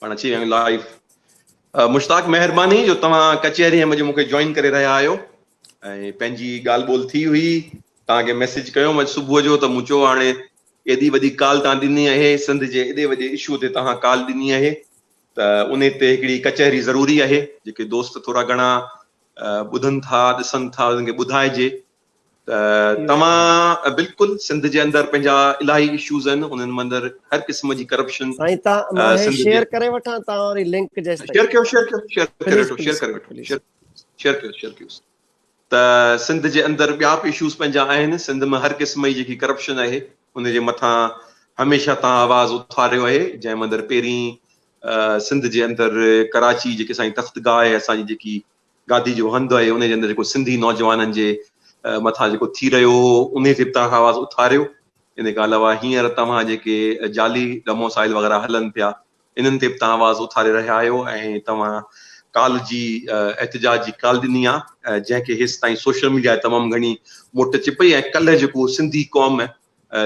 پاڻ اچي ويا آهيون لائيو مشتاق مهرباني جو توهان ڪچهري ۾ جو مونکي جوائن ڪري رهيا آهيو ۽ پنهنجي ڳالهه ٻولهه ٿي هئي توهان کي ميسج ڪيو اڄ صبح جو ته مون چيو هاڻي ايڏي وڏي ڪال توهان ڏني آهي سنڌ جي ايڏي وڏي اشو تي توهان ڪال ڏني آهي ته ان تي هڪڙي ڪچهري ضروري آهي جيڪي دوست ٿورا گهڻا ٻڌن ٿا ڏسن ٿا انهن کي ٻڌائجي ته توهان بلڪل سنڌ جي اندر پنهنجا الاهي اشوز آهن انهن مندر هر قسم جي ڪرپشن سائين ته مان هي شيئر ڪري وٺان ته وري لنڪ جيس تائين شيئر ڪيو شيئر ڪيو شيئر ڪري وٺو شيئر ڪري وٺو شيئر شيئر ڪيو شيئر ڪيو ته سنڌ جي اندر ٻيا به اشوز پنهنجا آهن سنڌ ۾ هر قسم جي جيڪي ڪرپشن آهي ان جي مٿان هميشه تان آواز اٿاريو آهي جنهن مندر پهرين سنڌ جي اندر ڪراچي جيڪي سائين تخت گاهه آهي اسان جي جيڪي گادي جو هنڌ ۽ انهي جي اندر جيڪو سنڌي نوجوانن جي مٿان جيڪو ٿي رهيو هو انهي تي به توهان آواز اٿاريو انهي کان علاوه هينئر توهان جيڪي جعلي ڊوموسائيل وغيره هلن پيا انهن تي به توهان آواز اٿاري رهيا آهيو ۽ توهان ڪالهه جي احتجاج جي ڪال ڏني آ جنهن کي هيس تائين سوشل ميڊيا تي تمام گهڻي موٽ اچي پئي ۽ ڪلهه جيڪو سنڌي قوم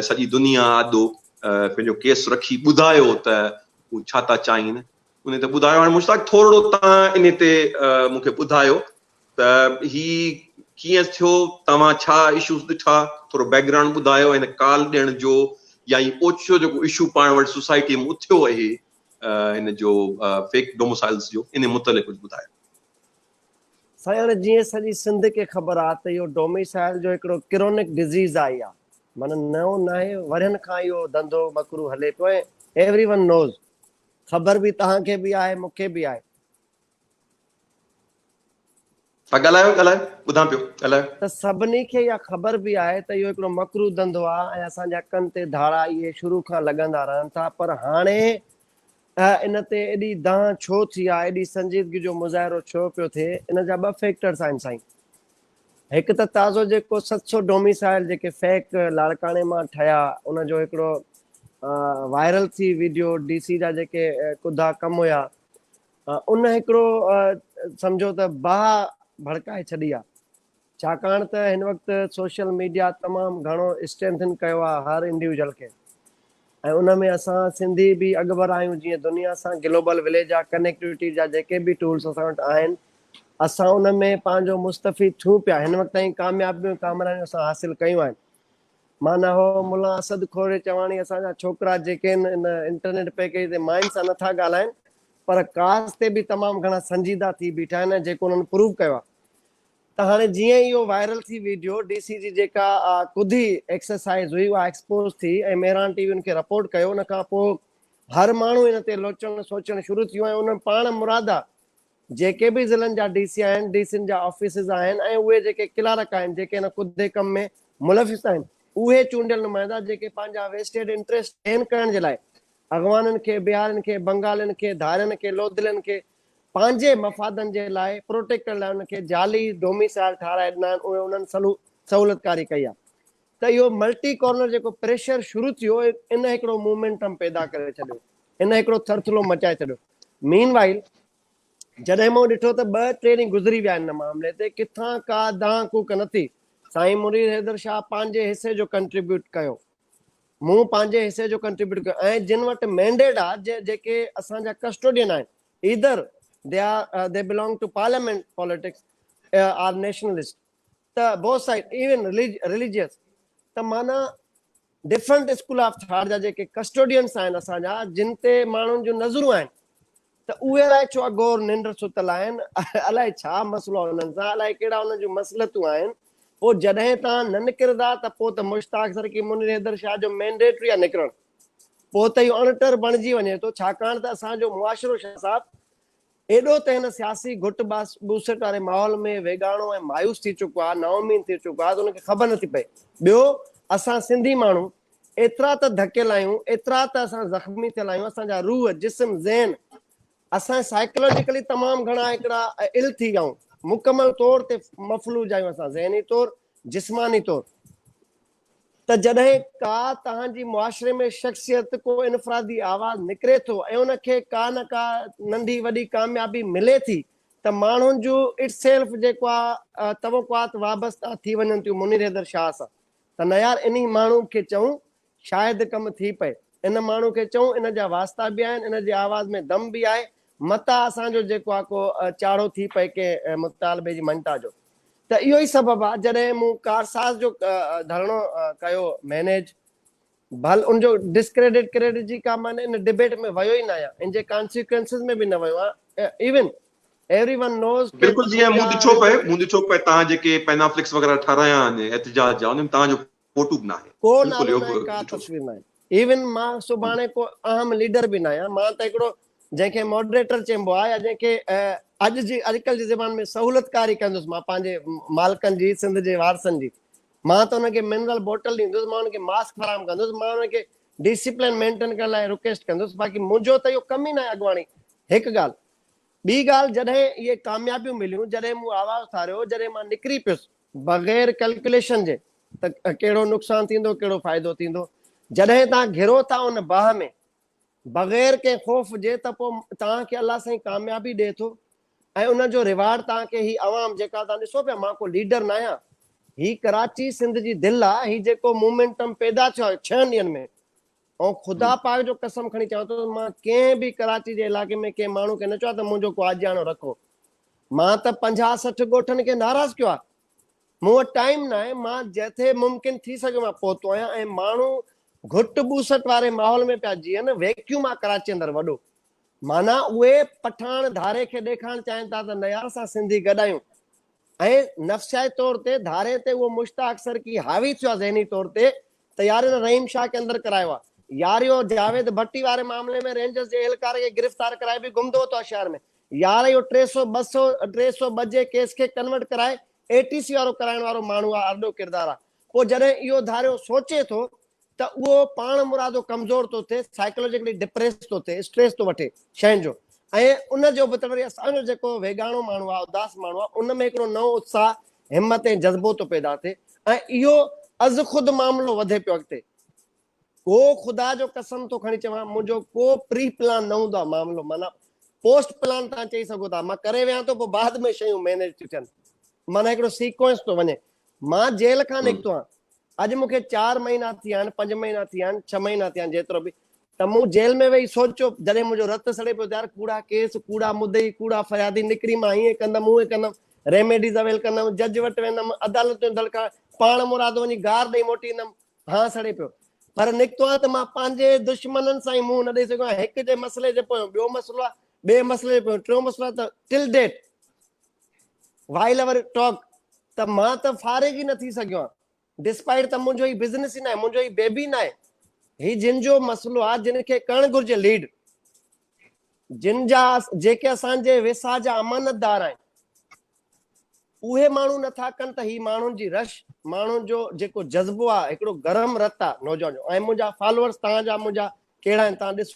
سڄي دنيا آڏو پنهنجو ڪيس رکي ٻڌايو ته هو ڇا ٿا چاهين انهي ته ٻڌايو هاڻي مشتاق ٿورڙو توهان انهي تي مون کي ٻڌايو ته هي ڪيئن ٿيو توهان ڇا اشوز ڏٺا ٿورو بيڪ گرائونڊ ٻڌايو هن ڪال ڏيڻ جو يا هي اوچتو جيڪو اشو پاڻ وٽ سوسائٽي ۾ اٿيو اهي هن جو فيڪ ڊوموسائلز جو انهي متعلق ڪجهه ٻڌايو. سائين هاڻي جيئن سڄي سنڌ کي خبر آ ته اهو ڊوميسائل جو هڪڙو ڪرونڪ ڊزيز آئي آ معنيٰ نئون ناهي ورهين کان اهو ڌنڌو مڪرو هلي پيو ۽ ايوري ون نوز خبر به توهان کي به آهي مون کي به آهي. ها ڳالهايو ڳالهايو ٻڌان پيو ڳالهايو. ته سڀني کي اها خبر به آهي ته اهو هڪڙو مڪروه ڌنڌو آهي ۽ اسان جا ڪن تي ڌاڙا اهي شروع کان لڳندا رهن ٿا پر هاڻي ان تي ايڏي دانهن ڇو ٿي آهي ايڏي سنجيدگي جو مظاهرو ڇو پيو ٿئي ان جا ٻه فيڪٽرس آهن سائين هڪ ته تازو جيڪو ست سو ڊوميسائل جيڪي فيڪ لاڙڪاڻي مان ٺهيا ان جو هڪڙو وائرل ٿي ويڊيو ڊي سي جا جيڪي ڪڌا ڪم هيا ان هڪڙو سمجهو ته باهه ڀڙڪائي ڇڏي آ ڇاڪاڻ ته هن وقت سوشل ميڊيا تمام گهڻو اسٽرينٿن ڪيو آ هر انڊيوجل کي ۽ ان ۾ اسان سنڌي به اڳڀر آهيون جيئن دنيا سان گلوبل وليج جا ڪنيڪٽوٽي جا جيڪي به ٽولس اسان وٽ آهن اسان ان ۾ پنهنجو مستفيد ٿيون پيا هن وقت تائين ڪاميابيون ڪامرانيون اسان حاصل ڪيون آهن معنيٰ هو ملا اسد کوري چواڻي اسان جا ڇوڪرا جيڪي ان انٽرنيٽ پيڪيج تي ماين سان نه ٿا ڳالهائين پر ڪاز تي به تمام گهڻا سنجيده ٿي بيٺا آهن ۽ جيڪو انهن پروو ڪيو آهي ته هاڻي جيئن ئي اهو وائرل ٿي ويڊيو ڊي سي جي جيڪا ڪڌي ايڪسرسائيز هئي اها ايڪسپوز ٿي ۽ مهراڻ ٽي وي ان کي رپورٽ ڪيو ان کان پوء هر ماڻهو ان تي لوچڻ سوچڻ شروع ٿيو ۽ ان پاڻ مرادا جيڪي به ضلعن جا ڊي سي آهن ڊي سين جا آفيسز آهن ۽ اهي جيڪي ڪلارڪ آهن جيڪي ان ڪڌي ڪم ۾ ملوث آهن اهي چونڊيل نمائندا جيڪي پنهنجا ويسٽيڊ انٽريسٽ گين ڪرڻ جي لاء اغوانن کي بهارين کي بنگالين کي ڌارين کي لوڌلين کي پنهنجي مفادن جي لاء پروٽيڪٽ ڪرڻ لاء انهن کي جعلي ڊوميسائل ٺهرائي ڏنا آهن اهي انهن سهولتڪاري ڪئي آهي ته اهو ملٽي ڪارنر جيڪو پريشر شروع ٿيو ان هڪڙو مومينٽم پيدا ڪري ڇڏيو ان هڪڙو ٿرٿلو مچائي ڇڏيو مين وائل جڏهن مون ڏٺو ته ٻه ٽي ڏينهن گذري ويا ان معاملي تي ڪٿان ڪا دانهن ڪوڪ نه ٿي سائين منير حيدر شاهه پنهنجي حصي جو ڪنٽريبيوٽ ڪيو مون پنهنجي حصي جو ڪنٽريبيوٽ ڪيو ۽ جن وٽ مينڊيٽ آ جيڪي اسان جا ڪسٽوڊين آهن either they are they belong to parliament politics are nationalist ته بوٿ سائيڊ ايون ريليجيس ته معنيٰ ڊفرنٽ اسڪول آف ٿاٽ جا جيڪي ڪسٽوڊينس آهن اسان جا جن تي ماڻهن جون نظرون آهن ته اهي الائي ڇو اگهور ننڊ ستل آهن، الائي ڇا مسئلو آهي انهن سان، الائي ڪهڙا انهن جون مصلحتون آهن. پوء جڏهن توهان نه نڪرندا ته پوء ته مشتاق سر ڪي منير حيدر شاهه جو مينڊيٽ ئي آهي نڪرڻ. پوء ته اهو اڻٽر بڻجي وڃي ٿو، ڇاڪاڻ ته اسان جو معاشرو شاهه صاحب ايڏو ته هن سياسي گهٽ ٻوسٽ واري ماحول ۾ ويڳاڻو ۽ مايوس ٿي چڪو آهي، نااميد ٿي چڪو آهي ته ان کي خبر نٿي پئي. ٻيو اسان سنڌي ماڻهو ايترا ته ڌڪيل آهيون، ايترا ته اسان زخمي ٿيل آهيون، اسان جا روح، جسم، ذهن، اسان سائيڪلاجيڪلي تمام گهڻا هڪڙا ill ٿي ويائون، مڪمل طور تي مفلوج آهيون اسان ذهني طور، جسماني طور. ته جڏهن ڪا توهان جي معاشري ۾ شخصيت، ڪو انفرادي آواز نڪري ٿو ۽ ان کي ڪا نه ڪا ننڍي وڏي ڪاميابي ملي ٿي ته ماڻهن جون Itself جيڪا توقعات وابسته ٿي وڃن ٿيون منير حيدر شاهه سان ته نه يار انهي ماڻهو کي چئون شايد ڪم ٿي پئي. ان ماڻهو کي چئون ان جا واسطا به آهن ان جي آواز ۾ دم به آهي متان اسان جو جيڪو آهي ڪو چاڙهو ٿي پئي ڪنهن مطالبي جي مڃتا جو ته اهو ئي سبب آهي جڏهن مون ڪارساز جو ڌرڻو ڪيو مينيج بھل ان جو ڊسڪريڊٽ ڪريڊٽ جي ڪا معنيٰ ان ڊبيٽ ۾ ويو ئي نه آھيان ان جي ڪانسيڪوئنسز ۾ به نه ويو آھيان ايون ايوري ون نوز ڪي بلڪل جيئن مون ڏٺو پئي مون ڏٺو پئي تان جيڪي پينا فليڪس وغيره ٺارايا آھن احتجاج جا انھن ۾ تان جو فوٽو به ناھي ڪو نالو ناھي ڪا تصوير ناھي ايون مان سڀاڻي ڪو اھم ليڊر به ناھيان مان ته ھڪڙو جنھن کي ماڊريٽر چئبو آھي يا جنھن کي اڄ جي اڄڪلھ جي زبان ۾ سھولتڪاري ڪندس مان پنھنجي مالڪن جي سنڌ جي وارثن جي مان ته انهن کي منرل بوٽل ڏيندس، مان انهن کي ماسڪ فراهم ڪندس، مان انهن کي ڊسپلين مينٽين ڪرڻ لاء رڪويسٽ ڪندس، باقي منهنجو ته اهو ڪم ئي ناهي اڳواڻي، هڪ ڳالهه. ٻي ڳالهه جڏهن اهي ڪاميابيون مليون، جڏهن مون آواز اٿاريو، جڏهن مان نڪري پيس، بغير ڪلڪيوليشن جي ته ڪهڙو نقصان ٿيندو، ڪهڙو فائدو ٿيندو، جڏهن تان گهرو ٿا ان باهه ۾، بغير ڪنهن خوف جي ته پوء توهان کي الله سائين ڪاميابي ڏئي ٿو ۽ ان جو ريوارڊ توهان کي هي عوام جيڪا توهان ڏسو پيا مان ڪو ليڊر ناهيان هي ڪراچي سنڌ جي دل آ هي جيڪو مومينٽم پيدا ٿيو آهي ڇهن ڏينهن ۾ ۽ خدا پاڪ جو قسم کڻي چوان ٿو مان ڪنهن به ڪراچي جي علائقي ۾ ڪنهن ماڻهو کي نه چوان ته منهنجو ڪو آجياڻو رکو مان ته پنجاهه سٺ ڳوٺن کي ناراض ڪيو آهي مون وٽ ٽائيم ناهي، مان جتي ممڪن ٿي سگهيو مان پهتو آهيان ۽ ماڻهو گهٽ ٻوسٽ واري ماحول ۾ پيا جيئن، ويڪيوم آ ڪراچي اندر وڏو. معنيٰ اهي پٺاڻ ڌاري کي ڏيکارڻ چاهين ٿا ته نه يار اسان سنڌي گڏ آهيون ۽ نفسياتي طور تي ڌاري تي اهو مشتاق سرڪي حاوي ٿيو آهي ذهني طور تي طياري تان رحيم شاهه کي اندر ڪرايو آ. ياريو جاويد ڀٽي واري معاملي ۾ رينجرز جي اهلڪار کي گرفتار ڪرائي به گم ڌوتو آ شهر ۾ يار اهو ٽي سؤ ٻه سؤ ٽي سؤ ٻه جي ڪيس کي ڪنورٽ ڪرائي اي ٽي سي وارو ڪرائڻ وارو ماڻهو آ ارڏو ڪردار آ پو جڏهن اهو ڌاريو سوچي ٿو ته اهو پاڻ مرادو ڪمزور ٿو ٿئي سائيڪلوجيڪلي ڊپريس ٿو ٿئي اسٽريس ٿو وٺي شين جو ۽ ان جو به ته وري اسان جو جيڪو ويڳاڻو ماڻهو آ اداس ماڻهو آ ان ۾ هڪڙو نئون اتساهه همت ۽ جذبو ٿو پيدا ٿئي ۽ اهو از خود معاملو وڌي پيو اڳتي. ڪو خدا جو قسم ٿو کڻي چوان منهنجو ڪو پري پلان نه هوندو آهي معاملو معنيٰ پوسٽ پلان تان چئي سگهو ٿا مان ڪري ويهان ٿو پوء بعد ۾ شيون مينيج ٿيون ٿين معنيٰ هڪڙو سيڪوئنس ٿو وڃي مان جيل کان نڪتو آهيان اڄ مونکي چار مهينا ٿيا آهن پنج مهينا ٿيا آهن ڇهه مهينا ٿيا آهن جيترو به ته مون جيل ۾ ويهي سوچيو، جڏهن منهنجو رت سڙي پيو ته يار ڪوڙا ڪيس، ڪوڙا مدعي، ڪوڙا فريادي نڪري مان هيئن ڪندم، هونئن ڪندم، ريميڊيز اويل ڪندم، جج وٽ ويندم، عدالتون دڙڪا، پاڻ مرادو وڃي گار ڏئي موٽي ايندم، هان سڙي پيو. پر نڪتو آهي ته مان پنهنجي دشمنن سان ئي منهن نه ڏئي سگهيو آهيان. هڪ جي مسئلي جي پويان ٻيو مسئلو آهي، ٻئي مسئلي جي پويان ٽيون مسئلو آهي ته till date while over talk ته مان ته فارغ ئي نه ٿي سگهيو آهيان. ڊسپائيٽ ته منهنجو هي بزنس ئي ناهي منهنجو هي بيبي ناهي هي جن جو مسئلو آهي جن کي ڪرڻ گهرجي ليڊ جن جا جيڪي اسان جي ويساهه جا امانتدار آهن اهي ماڻهو نٿا ڪن ته هي ماڻهن جي رش ماڻهن جو جيڪو جذبو آهي هڪڙو گرم رت آهي نوجوان جو ۽ منهنجا فالوورز تهان جا منهنجا ڪهڙا آهن تهان ڏسو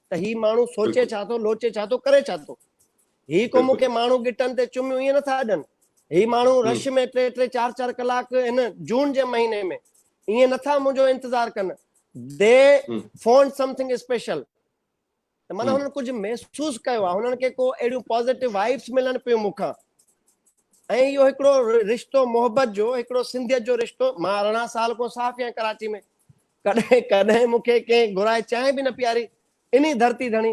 ته هي ماڻهو سوچي ڇا ٿو، لوچي ڇا ٿو، ڪري ڇا ٿو. هي ڪو مون کي ماڻهو ڳٽن تي چميون ائين نٿا اڏن. هي ماڻهو رش ۾ ٽي ٽي چار چار ڪلاڪ هن جون جي مهيني ۾ ائين نٿا منهنجو انتظار ڪن. The font something special. ته معنيٰ هنن ڪجهه محسوس ڪيو آهي. هنن کي ڪو اهڙيون پازيٽو وائبس ملن پيون مون کان. ۽ اهو هڪڙو رشتو محبت جو هڪڙو سنڌيت جو رشتو. مان ارڙهن سال کان صحافي آهيان ڪراچي ۾. ڪڏهن ڪڏهن مون کي ڪنهن گهرائي چانهه به نه پياري انهي ڌرتي ڌڻي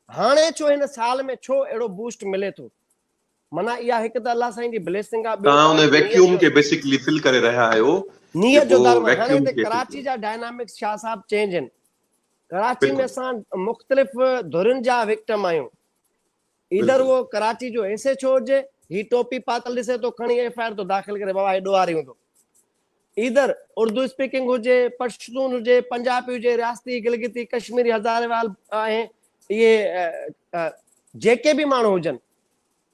هاڻي ڇو هن سال ۾ ڇو اهڙو بوسٽ ملي ٿو معنيٰ اها هڪ ته الله سائين جي بليسنگ آهي ٻيو توهان ان ويڪيوم کي بيسيڪلي فل ڪري رهيا آهيو نيت جو در ۾ هاڻي هتي ڪراچي جا ڊائنامڪس شاهه صاحب چينج آهن ڪراچي ۾ اسان مختلف ڌرين جا وڪٽم آهيون ايڌر هو ڪراچي جو ايس ايڇ او هجي، هي ٽوپي پاتل ڏسي ٿو کڻي ايف آء آر ٿو داخل ڪري بابا هي ڏوهاري هوندو. ايڌر اردو اسپيڪنگ هجي، پشتون هجي، پنجابي هجي، رياستي، گلگتي، ڪشميري، هزاريوال ۽ اهي جيڪي به ماڻهو هجن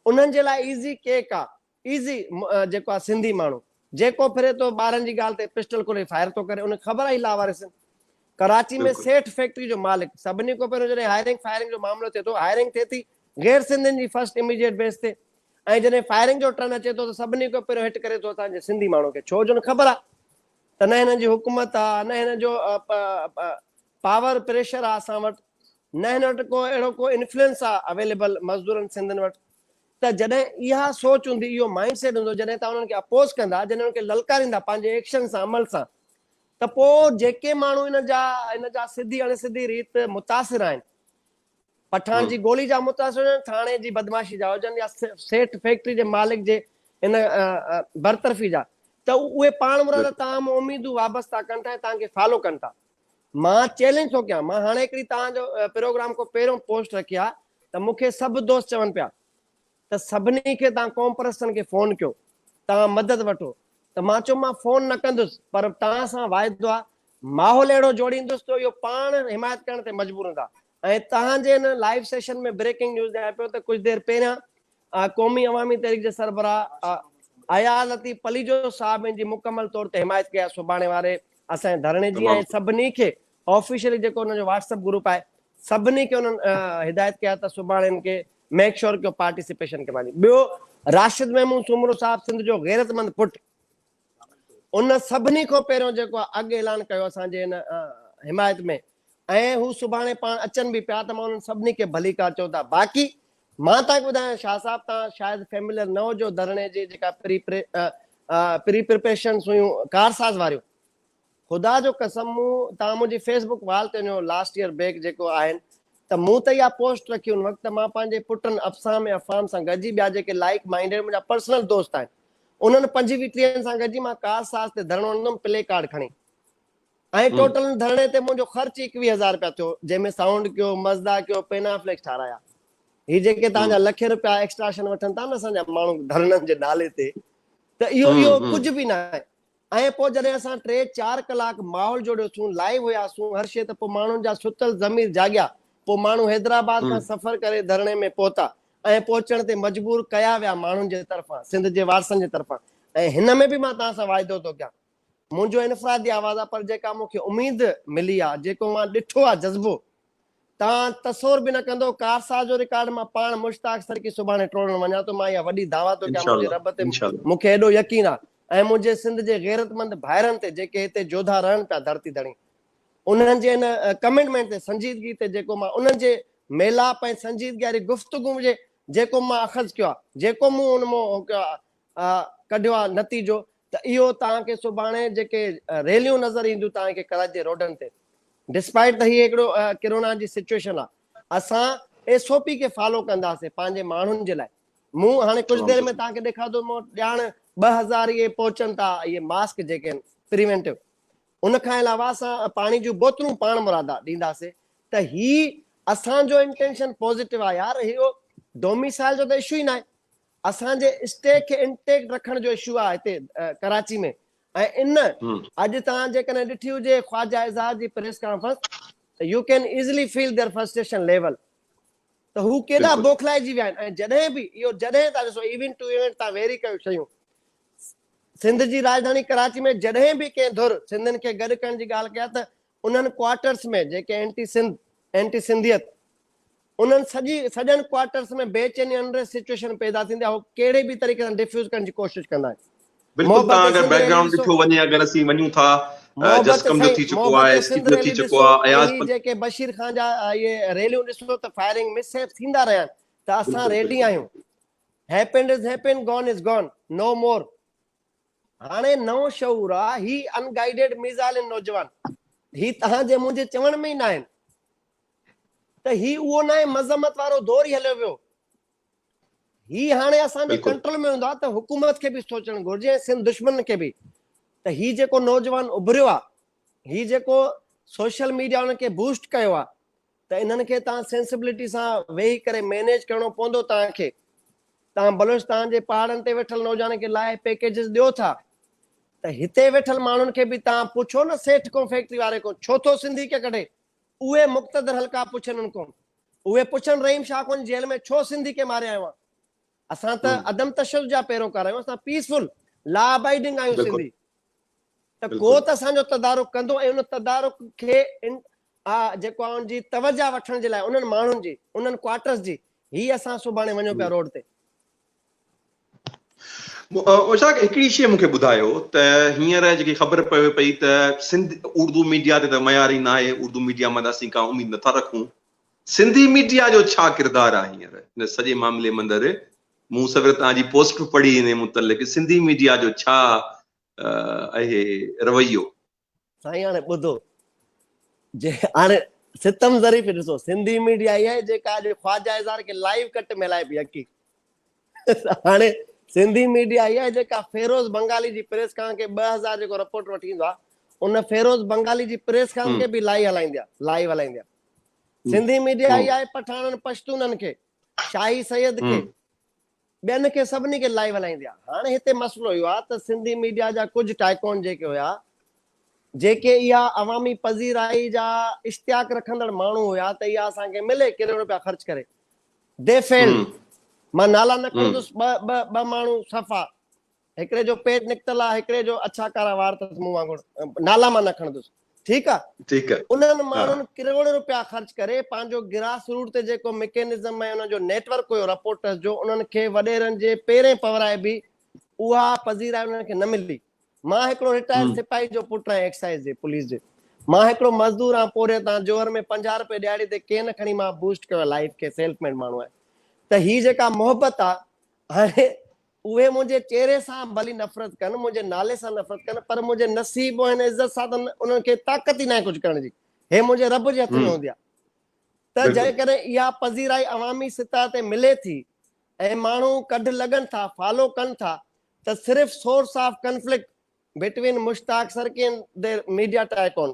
انهن جي لاء ايزي ڪيڪ آ. ايزي جيڪو آ سنڌي ماڻهو جيڪو ڦري ٿو ٻارن جي ڳالهه تي پسٽل کولي فائر ٿو ڪري ان کي خبر آهي لاوارث ڪراچي ۾ سيٺ فيڪٽري جو مالڪ سڀني کان پهريون جڏهن هائرنگ فائرنگ جو معاملو ٿئي ٿو هائرنگ ٿئي ٿي غير سنڌين جي فرسٽ اميڊيٽ بيس تي ۽ جڏهن فائرنگ جو ٽرن اچي ٿو ته سڀني کان پهريون هٽ ڪري ٿو اسان جي سنڌي ماڻهو کي ڇو جو خبر آ ته نه هنن جي حڪومت آ نه هنن جو پاور پريشر آ اسان وٽ نه هن وٽ ڪو اهڙو ڪو انفلوئنس آ اويليبل مزدورن سنڌين وٽ ته جڏهن اها سوچ هوندي، اهو مائينڊ سيٽ هوندو، جڏهن توهان انهن کي اپوز ڪندا، جڏهن انهن کي للڪاريندا پنهنجي ايڪشن سان، عمل سان، ته پوء جيڪي ماڻهو ان جا ان جا سڌي اڻ سڌي ريت متاثر آهن، پٺاڻ جي گولي جا متاثر هجن، ٿاڻي جي بدمعاشي جا هجن يا سيٺ فيڪٽري جي مالڪ جي ان برطرفي جا، ته اهي پاڻمراد توهان مان اميدون وابسته ڪن ٿا ۽ توهان کي فالو ڪن ٿا. مان چئلينج ٿو ڪيان مان هاڻي هڪڙي توهان جو پروگرام کان پهريون پوسٽ رکي آ ته مون کي سڀ دوست چون پيا ته سڀني کي توهان قوم پرستن کي فون ڪيو توهان مدد وٺو ته مان چيو مان فون نه ڪندس پر توهان سان واعدو آ ماحول اهڙو جوڙيندس جو اهو پاڻ حمايت ڪرڻ تي مجبور هوندا ۽ توهان جي ان لائيو سيشن ۾ بريڪنگ نيوز ڄاڻايان پيو ته ڪجهه دير پهريان قومي عوامي تحريڪ جي سربراهه حيات لطيف پليجو صاحب ان جي مڪمل طور تي حمايت ڪئي آهي سڀاڻي واري اسان جي ڌرڻي جي ۽ سڀني کي آفيشلي جيڪو ان جو واٽس اپ گروپ آهي سڀني کي انهن هدايت ڪئي آهي ته سڀاڻي ان کي ميڪ شور ڪيو پارٽيسپيشن ڪي ماني ٻيو راشد محمود سومرو صاحب سنڌ جو غيرتمند پٽ ان سڀني کان پهريون جيڪو اڳ اعلان ڪيو اسان جي ان حمايت ۾ ۽ هو سڀاڻي پاڻ اچن به پيا ته مان انهن سڀني کي ڀليڪار چون ٿا باقي مان توهان کي ٻڌايان شاهه صاحب توهان شايد فيمليئر نه هجو ڌرڻي جي جيڪا پري پري پري پريپريشنس هيون ڪارساز واريون خدا جو قسم مون توهان منهنجي فيس بڪ وال تي وڃو لاسٽ ييئر بيڪ جيڪو آهن ته مون ته اها پوسٽ رکي ان وقت ته مان پنهنجي پٽن افسام ۽ افهام سان گڏجي ٻيا جيڪي لائيڪ مائينڊيڊ منهنجا پرسنل دوست آهن انهن پنج ويهه ٽيهن سان گڏجي مان ڪاز ساز تي ڌرڻو هڻندم پلي ڪارڊ کڻي ۽ ٽوٽل ان ڌرڻي تي منهنجو خرچ ئي اڪويهه هزار رپيا ٿيو جنهن ۾ سائونڊ ڪيو مزدا ڪيو پينافليڪس ٺارايا هي جيڪي توهان جا لکين رپيا ايڪسٽراشن وٺن ٿا نه اسان جا ماڻهو ڌرڻن جي نالي تي ته اهو اهو ڪجهه به ناهي ۽ پوء جڏهن اسان ٽي چار ڪلاڪ ماحول جوڙيو سون، لائيو هياسون هر شيء ته پوء ماڻهن جا ستل ضمير جاڳيا. پوء ماڻهو حيدرآباد کان سفر ڪري ڌرڻي ۾ پهتا ۽ پهچڻ تي مجبور ڪيا ويا ماڻهن جي طرفان، سنڌ جي وارثن جي طرفان. ۽ هن ۾ به مان توهان سان واعدو ٿو ڪيان. منهنجو انفرادي آواز آهي پر جيڪا مون کي اميد ملي آهي، جيڪو مان ڏٺو آهي جذبو تان تصور به نه ڪندو ڪارساز جو رڪارڊ مان پاڻ مشتاق سرڪي سڀاڻي ٽوڙڻ وڃان ٿو مان اها وڏي دعويٰ ٿو ڪيان منهنجي رب تي مون کي ايڏو يقين آ ۽ منهنجي سنڌ جي غيرتمند ڀائرن تي جيڪي هتي جوڌا رهن پيا ڌرتي ڌڻي انهن جي ان ڪمنٽمينٽ تي سنجيدگي تي جيڪو مان انهن جي ميلاپ ۽ سنجيدگي واري گفتگو جي جيڪو مان اخذ ڪيو آ جيڪو مون ان مان ڪڍيو آ نتيجو ته اهو توهان کي سڀاڻي جيڪي ريليون نظر اينديون توهان کي ڪراچي جي روڊن تي ڊسپائيٽ ته هي هڪڙو ڪرونا جي سچوئيشن آ اسان ايس او پي کي فالو ڪنداسين پنهنجي ماڻهن جي لاء مون هاڻي ڪجهه دير ۾ توهان کي ڏيکاردو مون وٽ ڄاڻ ٻه هزار اهي پهچن ٿا اهي ماسڪ جيڪي آهن پريونٽو ان کان علاوه اسان پاڻي جون بوتلون پاڻ مرادا ڏينداسين ته هي اسان جو انٽينشن پوزيٽو آ يار اهو ڊوميسائل جو ته اشو ئي ناهي اسان جي اسٽيڪ کي انٽيڪٽ رکڻ جو اشو آ هتي ڪراچي ۾ ۽ ان اڄ توهان جيڪڏهن ڏٺي هجي خواجه اعزاز جي پريس ڪانفرنس ته you can easily feel their frustration level ته هو ڪيڏا بوکلائجي ويا آهن ۽ جڏهن به اهو جڏهن تان ڏسو ايونٽ ٽو ايونٽ تان ويري ڪيو شيون سنڌ جي راڄڌاڻي ڪراچي ۾ جڏهن به ڪنهن ڌر سنڌين کي گڏ ڪرڻ جي ڳالهه ڪيا ته انهن ڪوارٽرس ۾ جيڪي اينٽي سنڌ، اينٽي سنڌيت، انهن سڄي سڄن ڪوارٽرس ۾ بي چيني انريسٽ سچوئيشن پيدا ٿيندي آهي اهو ڪهڙي به طريقي سان ڊفيوز ڪرڻ جي ڪوشش ڪندا آهن. بلڪل تان اگر بيڪ گرائونڊ ڏٺو وڃي اگر اسين وڃون ٿا جسقم جو ٿي چڪو آهي اسڪيپ جو ٿي چڪو آهي اياز پنهنجي جيڪي بشير خان جا اهي ريليون ڏسو ته فائرنگ مس هيپ ٿيندا رهيا آهن ته اسان ريڊي آهيون happened is happened gone is gone no more. هاڻي نئون شعور آ هي ان گائيڊيڊ ميزائلن نوجوان هي تهان جي منهنجي چوڻ ۾ ئي ناهن ته هي اهو ناهي مذمت وارو دور ئي هليو ويو هي هاڻي اسان جي ڪنٽرول ۾ هوندا ته حڪومت کي به سوچڻ گهرجي ۽ سنڌ دشمنن کي به ته هي جيڪو نوجوان اڀريو آ هي جيڪو سوشل ميڊيا ان کي بوسٽ ڪيو آ ته انهن کي تان سينسبلٽي سان ويهي ڪري مينيج ڪرڻو پوندو تان کي تان بلوچستان جي پهاڙن تي ويٺل نوجوانن کي لاهي پيڪيجز ڏيو ٿا ته هتي ويٺل ماڻهن کي به تان پڇو نه سيٺ ڪون فيڪٽري واري ڪون ڇو ٿو سنڌي کي ڪڍي اهي مقتدر حلقا پڇن ان ڪون اهي پڇن رحيم شاهه ڪون جيل ۾ ڇو سنڌي کي ماريا آهيون اسان ته عدم تشدد جا پيروڪار آهيون اسان پيسفل لا ابائيڊنگ آهيون سنڌي ته ڪو ته اسان جو تدارڪ ڪندو ۽ ان تدارڪ کي آ جيڪو آ ان جي توجه وٺڻ جي لاء انهن ماڻهن جي انهن ڪوارٽرز جي هي اسان سڀاڻي وڃو پيا روڊ تي. اوشاق هڪڙي شي مونکي ٻڌايو ته هينئر جيڪي خبر پوي پئي ته سنڌ اردو ميڊيا تي ته معياري ناهي اردو ميڊيا مان ته اسين ڪا اميد نٿا رکون سنڌي ميڊيا جو ڇا ڪردار آهي هينئر ان سڄي معاملي مندر مون سوير تان جي پوسٽ به پڙهي ان متعلق سنڌي ميڊيا جو ڇا اهي رويو سائين هاڻي ٻڌو جي هاڻي ستم ظريف ڏسو سنڌي ميڊيا اها آهي جيڪا اڄ خواجه اظهار کي لائيو ڪٽ ۾ هلائي پئي حقي هاڻي سنڌي ميڊيا اها آهي جيڪا فيروز بنگالي جي پريس خان کي 2000 جيڪو رپورٽ وٺي ايندو آهي ان فيروز بنگالي جي پريس خان کي به لائي هلائيندي آهي لائيو هلائيندي آهي سنڌي ميڊيا اها آهي پٺاڻن پشتونن کي شاهي سيد کي ٻين کي سڀني کي لائيو هلائيندي آ. هاڻي هتي مسئلو اهو آ ته سنڌي ميڊيا جا ڪجهه ٽائيڪون جيڪي هيا جيڪي اها عوامي پذيرائي جا اشتياق رکندڙ ماڻهو هيا ته اها اسان کي ملي ڪروڙ روپيا خرچ ڪري دي فيلڊ مان نالا نه کڻندس ٻه ٻه ٻه ماڻهو صفا هڪڙي جو پيٽ نڪتل آ هڪڙي جو اڇا ڪارا وار تس مون وانگر نالا مان نه کڻندس ٺيڪ آ ٺيڪ آ انهن ماڻهن ڪروڙين رپيا خرچ ڪري پنهنجو گراس روٽ تي جيڪو مڪينزم ۽ انهن جو نيٽ ورڪ هيو رپورٽرز جو انهن کي وڏيرن جي پيرين پورائي به اها پذيرائي انهن کي نه ملي مان هڪڙو رٽائرڊ سپاهي جو پٽ آهيان ايڪسائيز جي پوليس جي مان هڪڙو مزدور آهيان پورهيت آهيان جوهر ۾ پنجاهه رپئي ڏيهاڙي تي ڪين کڻي مان بوسٽ ڪيو لائف کي سيلف ميڊ ماڻهو آهي ته هي جيڪا محبت آ هاڻي اهي منهنجي چهري سان ڀلي نفرت ڪن، منهنجي نالي سان نفرت ڪن، پر منهنجي نصيب ۽ هن عزت سان ته انهن کي طاقت ئي ناهي ڪجهه ڪرڻ جي. هي منهنجي رب جي هٿ ۾ هوندي آهي. ته جيڪڏهن اها پذيرائي عوامي سطح تي ملي ٿي ۽ ماڻهو ڪڍ لڳن ٿا، فالو ڪن ٿا ته صرف source of conflict between Mushtaq سرڪين دي ميڊيا ٽائيڪون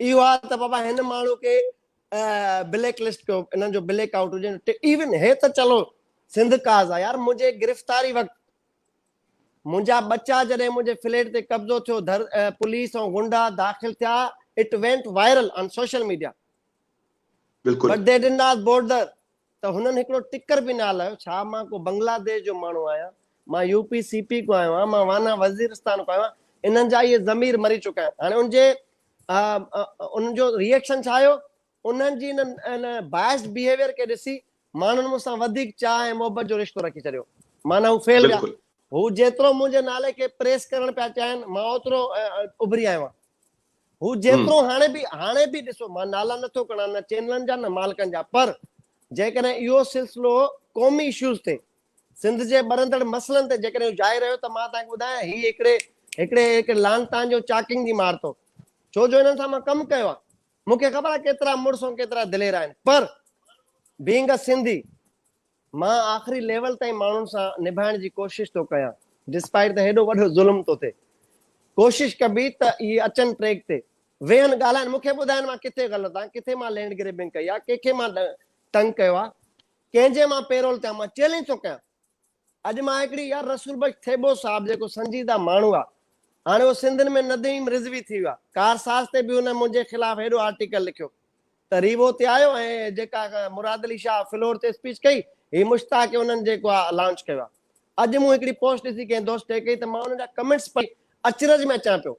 اهو آ ته بابا هن ماڻهو کي بليڪ لسٽ ڪيو انهن جو بليڪ آئوٽ هجي ايون هي ته چلو سنڌ ڪاز آ يار منهنجي گرفتاري وقت منهنجا ٻچا جڏهن منهنجي فليٽ تي قبضو ٿيو پوليس ۽ غنڊا داخل ٿيا it went viral on social media بلڪل but they did not bother ته هنن هڪڙو ٽڪر به نه هلايو، ڇا مان ڪو بنگلاديش جو ماڻهو آهيان، مان يو پي سي پي کان آيو آهيان، مان وانا وزيرستان کان آيو آهيان، انهن جا اهي ضمير مري چڪا آهن. هاڻي ان جي انهن جو ريئڪشن ڇا هيو، انهن جي ان بائسڊ بيهيويئر کي ڏسي ماڻهن مون سان وڌيڪ چاهه ۽ محبت جو رشتو رکي ڇڏيو، معنيٰ هو ڦهلجا. هو جيترو منهنجي نالي کي پريس ڪرڻ پيا چاهين، مان اوترو اڀري آيو آهيان. هو جيترو هاڻي به هاڻي به ڏسو مان نالا نٿو کڻان نه چينلن جا نه مالڪن جا پر جيڪڏهن اهو سلسلو قومي اشوز تي سنڌ جي ٻرندڙ مسئلن تي جيڪڏهن هو جائي رهيو ته مان تان کي ٻڌايان هي هڪڙي هڪڙي هڪ لانتان جو چاڪنگ جي مار تو ڇو جو هنن سان مان ڪم ڪيو آ مون کي خبر آ ڪيترا مڙس ۽ ڪيترا دلير آهن پر بينگ ا سنڌي مان آخري ليول تائين ماڻهن سان نڀائڻ جي ڪوشش ٿو ڪيان ڊسپائيٽ ته هيڏو وڏو ظلم ٿو ٿئي ڪوشش ڪبي ته اهي اچن ٽريڪ تي ويهن ڳالهائن مون کي ٻڌائن مان ڪٿي غلط آهيان ڪٿي مان لينڊ گريبنگ ڪئي آهي ڪنهن کي مان تنگ ڪيو آهي ڪنهن جي مان پيرول ٿيان مان چيلينج ٿو ڪيان اڄ مان هڪڙي يار رسول بخش ٿيٻو صاحب جيڪو سنجيده ماڻهو آهي هاڻي اهو سنڌن ۾ نديم رضوي ٿي ويو آهي ڪارساز تي به هن منهنجي خلاف هيڏو آرٽيڪل لکيو تريبو تي آيو ۽ جيڪا مراد علي شاهه فلور تي اسپيچ ڪئي هي مشتاق هي انهن جيڪو آ لانچ ڪيو آ اڄ مون هڪڙي پوسٽ ڏسي ڪنهن دوست ٽيگ ڪئي ته مان انهن جا ڪمينٽس پڙهي اچرج ۾ اچان پيو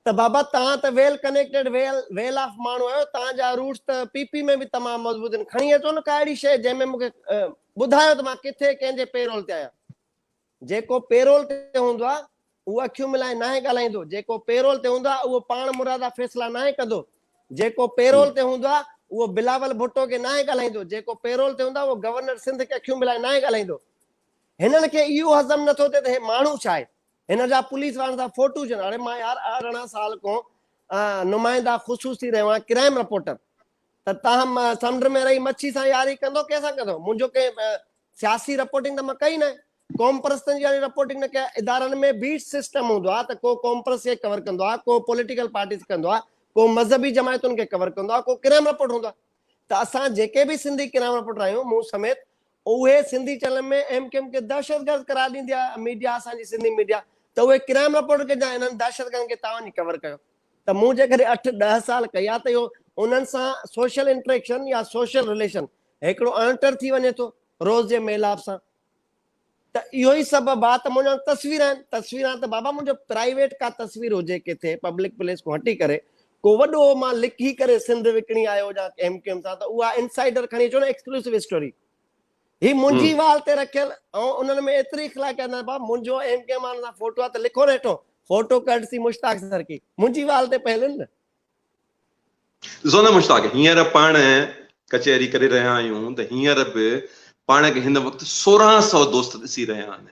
ته بابا توهان ته well connected well well off ماڻهو آهيو توهان جا روٽس ته پي پي ۾ به تمام مضبوط آهن کڻي اچو نه ڪا اهڙي شيء جنهن ۾ مون کي ٻڌايو ته مان ڪٿي ڪنهن جي پيرول تي آهيان جيڪو پيرول تي هوندو آهي، اهو اکيون ملائي ناهي ڳالهائيندو، جيڪو پيرول تي هوندو آهي، اهو پاڻ مرادا فيصلا ناهي ڪندو، جيڪو پيرول تي هوندو آهي، اهو بلاول ڀٽو کي ناهي ڳالهائيندو، جيڪو پيرول تي هوندو آهي، اهو گورنر سنڌ کي اکيون ملائي ناهي ڳالهائيندو. هنن کي اهو هضم نه ٿو ٿئي ته هي ماڻهو ڇا آهي؟ هن جا پوليس وارن سان فوٽو وجهن، اڙي مان يار ارڙهن سال کان نمائنده خصوصي رهيو آهيان، ڪرائيم رپورٽر، ته تاهم سمنڊ ۾ رهي مڇي سان ياري ڪندو، ڪنهن سان ڪندو؟ منهنجو ڪنهن سياسي رپورٽنگ ته مان ڪئي نه. قومپرستن جي هاڻي رپورٽنگ نه ڪيا. ادارن ۾ به سسٽم هوندو آهي ته ڪو قومپرست کي ڪور ڪندو آهي، ڪو پوليٽيڪل پارٽيز کي ڪندو آهي، ڪو مذهبي جماعتن کي ڪور ڪندو آهي، ڪو ڪرائم رپورٽر هوندو آهي. ته اسان جيڪي به سنڌي ڪرائم رپورٽر آهيون، مون سميت، اهي سنڌي چئنلن ۾ ايم ڪيو ايم کي دهشتگرد قرار ڏيندي آهي ميڊيا، اسان جي سنڌي ميڊيا، ته اهي ڪرائم رپورٽر ڪجان، انهن دهشتگردن کي توهان وڃي ڪور ڪيو. ته مون جيڪڏهن اٺ ڏهه سال ڪيا ته اهو انهن سان سوشل انٽريڪشن يا سوشل رليشن هڪڙو اڻٽر ٿي وڃي ٿو روز جي ميلاپ سان ته اهو ئي سبب آ ته منهنجا تصوير آهن تصوير آهن ته بابا منهنجو پرائيويٽ ڪا تصوير هجي ڪٿي پبلڪ پليس کان هٽي ڪري ڪو وڏو مان لڪي ڪري سنڌ وڪڻي آيو هجان ايم ڪيو ايم سان ته اها انسائيڊر کڻي اچو نه ايڪسڪلوسو اسٽوري هي منهنجي وال تي رکيل ۽ انهن ۾ ايتري اخلاقيات نه بابا منهنجو ايم ڪي مان سان فوٽو آ ته لکو نه هيٺو فوٽو ڪرٽسي مشتاق سرڪي منهنجي وال تي پيل آهن نه ڏسو نه مشتاق هينئر پاڻ ڪچهري ڪري رهيا آهيون ته هينئر به پاڻ کي هن وقت سورهن سئو دوست ڏسي رهيا آهن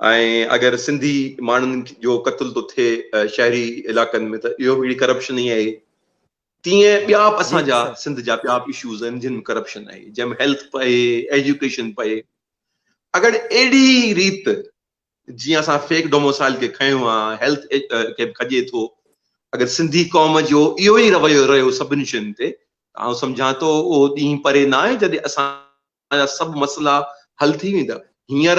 ۽ اگر سنڌي ماڻهن جو قتل ٿو ٿئي شهري علائقن ۾ ته اهو به هڪڙي ڪرپشن ئي آهي تيئن ٻيا به اسان جا سنڌ جا ٻيا به اشوز آهن جن ۾ ڪرپشن آهي جنهن ۾ هيلٿ به آهي ايجوڪيشن به آهي اگر اهڙي ريت جيئن اسان فيڪ ڊوموسائل کي کنيو آ هيلٿ کي به کڄي ٿو اگر سنڌي قوم جو اهو ئي رويو رهيو سڀني شين تي آئون سمجهان ٿو اهو ڏينهن پري نه آهي جڏهن اسان تهانجا سڀ مسئلا حل ٿي ويندا. هينئر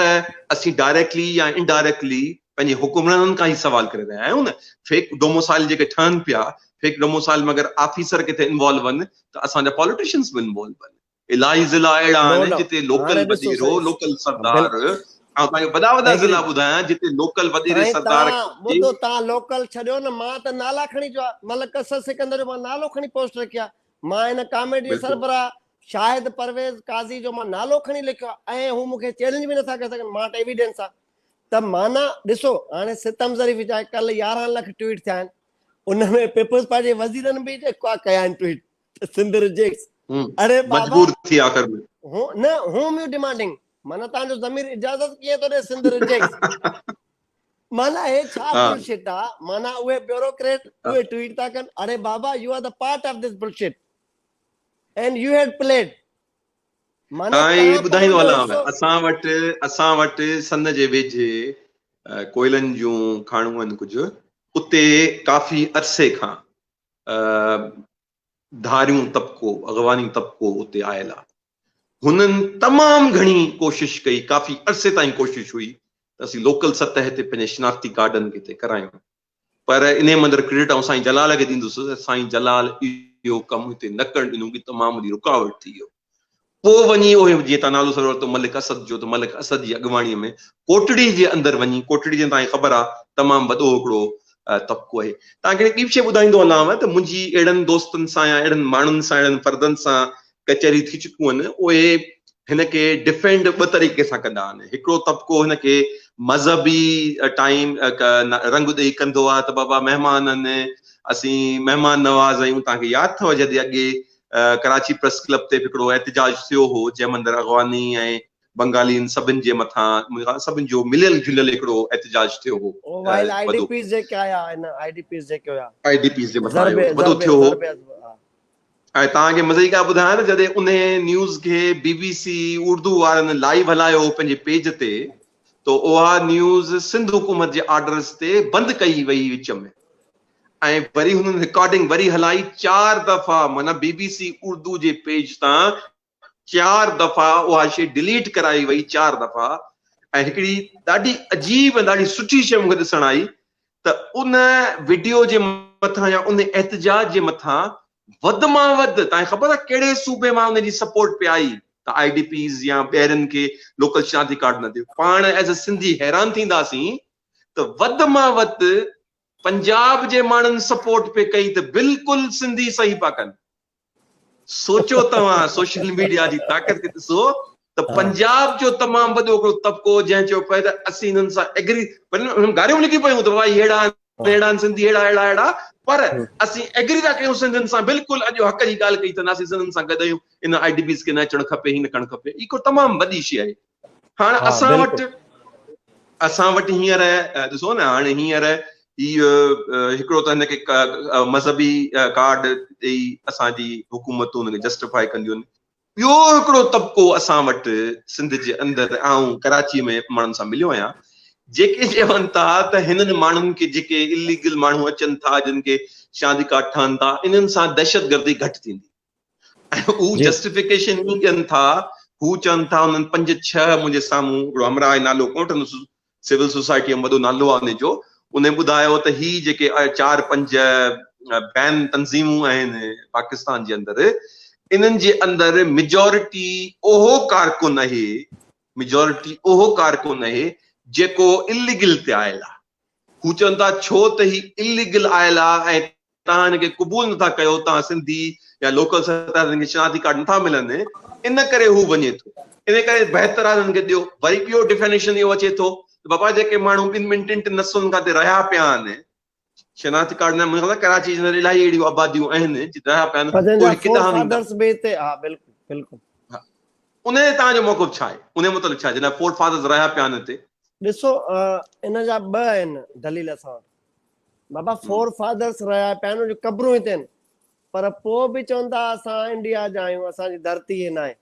اسين ڊائريڪٽلي يا انڊائريڪٽلي پنهنجي حڪمرانن کان هي سوال ڪري رهيا آهيون نه فيڪ ڊوموسائل جيڪي ٺهن پيا فيڪ ڊوموسائل ۾ اگر آفيسر ڪٿي انوالو هن ته اسان جا پاليٽيشنز به انوالو هن. الائي ضلعا اهڙا آهن جتي لوڪل وڏيرو لوڪل سردار آئون تهان کي وڏا وڏا ضلعا ٻڌايان جتي لوڪل وڏيري سردار ٻڌو تهان لوڪل ڇڏيو نه مان ته نالا کڻي جو ملڪ اسد سڪندر جو مان نالو کڻي پوسٽ رکيا مان هن ڪاميٽ جي سربراهه شاهد پرويز قاضي جو مان نالو کڻي لکيو آهي ۽ هو مون کي چئلينج به نٿا ڪري سگهن مان وٽ ايويڊنس آهي ته معنيٰ ڏسو هاڻي ستم ظريف جا ڪل يارهن لک ٽوئيٽ ٿيا آهن ان ۾ پيپلز پارٽي جي وزيرن به جيڪا ڪيا آهن ٽوئيٽ ته سنڌ ريجيڪٽس اڙي بابا مجبور ٿي آخر ۾ هو نه هوم يو ڊيمانڊنگ معنيٰ تان جو ضمير اجازت ڪيئن ٿو ڏي سنڌ ريجيڪٽس معنيٰ هي ڇا بل شٽ آ معنيٰ اهي بيوروڪريٽ اهي ٽويٽ ٿا ڪن اڙي بابا you are the part of this bullshit and you had played معنيٰ ٻڌائيندو هلان اسان وٽ اسان وٽ سن جي ويجهي ڪوئلن جون کاڻون آهن ڪجهه اتي ڪافي عرصي کان ڌاريون طبقو اغواني طبقو اتي آيل آ هنن تمام گهڻي ڪوشش ڪئي، ڪافي عرصي تائين ڪوشش هئي ته اسين لوڪل سطح تي پنهنجي شناختي ڪارڊن کي طئي ڪرايون پر انهي مندر ڪريڊٽ آئون سائين جلال کي ڏيندس ته سائين جلال اهو ڪم هتي نه ڪرڻ ڏنو ڪي تمام وڏي رڪاوٽ ٿي ويو پوء وڃي اهي جيئن تان نالو سر ورتو ملڪ اسد جو ته ملڪ اسد جي اڳواڻي ۾ ڪوٽڙي جي اندر وڃي ڪوٽڙي جي تائين خبر آ تمام وڏو هڪڙو طبقو آهي تان کي ٻي شي ٻڌائيندو هلانو ته منهنجي اهڙن دوستن سان يا اهڙن ماڻهن سان اهڙن فردن سان ڪچهري ٿي چڪيون آهن اهي هن کي ڊفينڊ ٻه طريقي سان ڪندا آهن هڪڙو طبقو هن کي مذهبي ٽائيم رنگ ڏئي ڪندو آهي ته بابا مهمان آهن اسين مهمان نواز آهيون توهان کي ياد اٿو جڏهن اڳي ڪراچي پريس ڪلب تي به هڪڙو احتجاج ٿيو هو جنهن ۾ اندر اغواني ۽ بنگالين سڀن جي مٿان منهنجي خيال سڀن جو مليل جليل هڪڙو احتجاج ٿيو هو وائل آئي ڊي پيز جيڪي آيا آهن آئي ڊي پيز جيڪي هيا آئي ڊي پيز جي مٿان وڏو ٿيو هو آء توهان کي مزي جي ڳالهه ٻڌايان ته جڏهن انهيء نيوز کي بي بي سي اردو وارن لائيو هلايو پنهنجي پيج تي ته اها نيوز سنڌ حڪومت جي آرڊرز تي بند ڪئي وئي وچ ۾ ۽ وري هنن رڪارڊنگ وري هلائي چار دفعا معنيٰ بي بي سي اردو جي پيج تان چار دفعا اها شي ڊليٽ ڪرائي وئي چار دفعا ۽ هڪڙي ڏاڍي عجيب ۽ ڏاڍي سٺي شي مونکي ڏسڻ آئي ته ان ويڊيو جي مٿان يا ان احتجاج جي مٿان وڌ مان وڌ تائين خبر آهي ڪهڙي صوبي مان ان جي سپورٽ پي آئي ته آئي ڊي پيز يا ٻيرن کي لوڪل شناختي ڪارڊ نه ڏيو پاڻ ايز اي سنڌي حيران ٿينداسين ته وڌ مان وڌ پنجاب جي ماڻهن سپورٽ پئي ڪئي ته بلڪل سنڌي صحيح پئا ڪن سوچو توهان سوشل ميڊيا جي طاقت کي ڏسو ته پنجاب جو تمام وڏو هڪڙو طبقو جنهن چيو پئي ته اسين هنن سان ايگري هنن گاريون لکي پيون ته بابا هيڙا هيڙا سنڌي هيڙا هيڙا هيڙا پر اسين ايگري ٿا ڪيون سنڌين سان بلڪل اڄ حق جي ڳالهه ڪئي ته اسين سنڌين سان گڏ آهيون ان آئي ڊي بيز کي نه اچڻ کپي هي نه ڪرڻ کپي هي ڪو تمام وڏي شيء آهي هاڻ اسان وٽ اسان وٽ هينئر ڏسو نه هاڻي هينئر هي هڪڙو ته هن کي مذهبي ڪارڊ ڏيئي اسان جي حڪومتون هن کي جسٽيفائي ڪنديون ٻيو هڪڙو طبقو اسان وٽ سنڌ جي اندر آئون ڪراچي ۾ ماڻهن سان مليو آهيان جيڪي چون ٿا ته هنن ماڻهن کي جيڪي اليگل ماڻهو اچن ٿا جن کي شاندي ڪارڊ ٺهن ٿا انهن سان دهشتگردي گهٽ ٿيندي هو جسٽيفڪيشن ئي ڏين ٿا، هو چون ٿا انهن پنج ڇهه منهنجي سامهون هڪڙو همراهه نالو ڪونه وٺندس سول سوسائٽي ۾ وڏو نالو آهي ان جو انهن ٻڌايو ته هي جيڪي چار پنج بين تنظيمون آهن پاڪستان جي اندر انهن جي اندر ميجورٽي اهو ڪارڪن آهي ميجورٽي اهو ڪارڪن آهي جيڪو اليگل تي آيل آهي هو چون ٿا ڇو ته هي اليگل آيل آ ۽ توهان هن کي قبول نه ٿا ڪيو توهان سنڌي يا لوڪل سرڪار هن کي شناختي ڪارڊ نه ٿا ملن ان ڪري هو وڃي ٿو ان ڪري بهتر آ هن کي ڏيو وري ٻيو ڊيفينيشن اهو اچي ٿو بابا جيڪي ماڻهو ٻن ٻن ٽن ٽن نسلن کان تي رهيا پيا آهن شناختي ڪارڊ نه ملن ڪراچي جي الاهي اهڙيون آباديون آهن جي رهيا پيا آهن اهي ڪيڏا آهن فادرز به تي ها بلڪل بلڪل انهيء جي توهان جو موقف ڇا آهي؟ انهيء متعلق ڇا جناب فورڊ فاڌرز رهيا پيا آهن هتي؟ ڏسو ان جا ٻه آهن دليل اسان وٽ. بابا فور فاڌرز رهيا پيا آهن انهن جون قبرون هتي آهن پر پوء به چون ٿا اسان انڊيا جا آهيون اسان جي ڌرتي هي ناهي.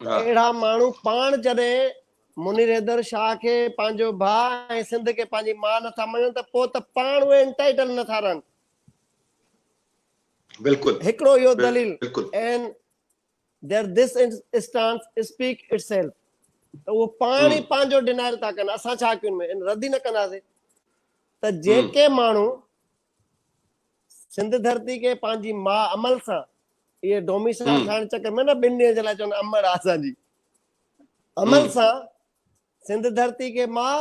ته اهڙا ماڻهو پاڻ جڏهن منير حيدر شاهه کي پنهنجو ڀاء ۽ سنڌ کي پنهنجي ماء نه ٿا مڃن ته پوء ته پاڻ اهي انٽائيٽل نه ٿا رهن. بلڪل. هڪڙو اهو دليل. بلڪل. Their this stance speak itself ته اهو پاڻ ئي پنهنجو ڊينائل ٿا ڪن اسان ڇا ڪيون ۾ رد ئي نه ڪنداسين ته جيڪي ماڻهو سنڌ ڌرتي کي پنهنجي ماء عمل سان اهي ڊوميسائل ٺاهڻ چڪر ۾ نه ٻن ڏينهن جي لاء چون امڙ آسان جي عمل سان سنڌ ڌرتي کي ماء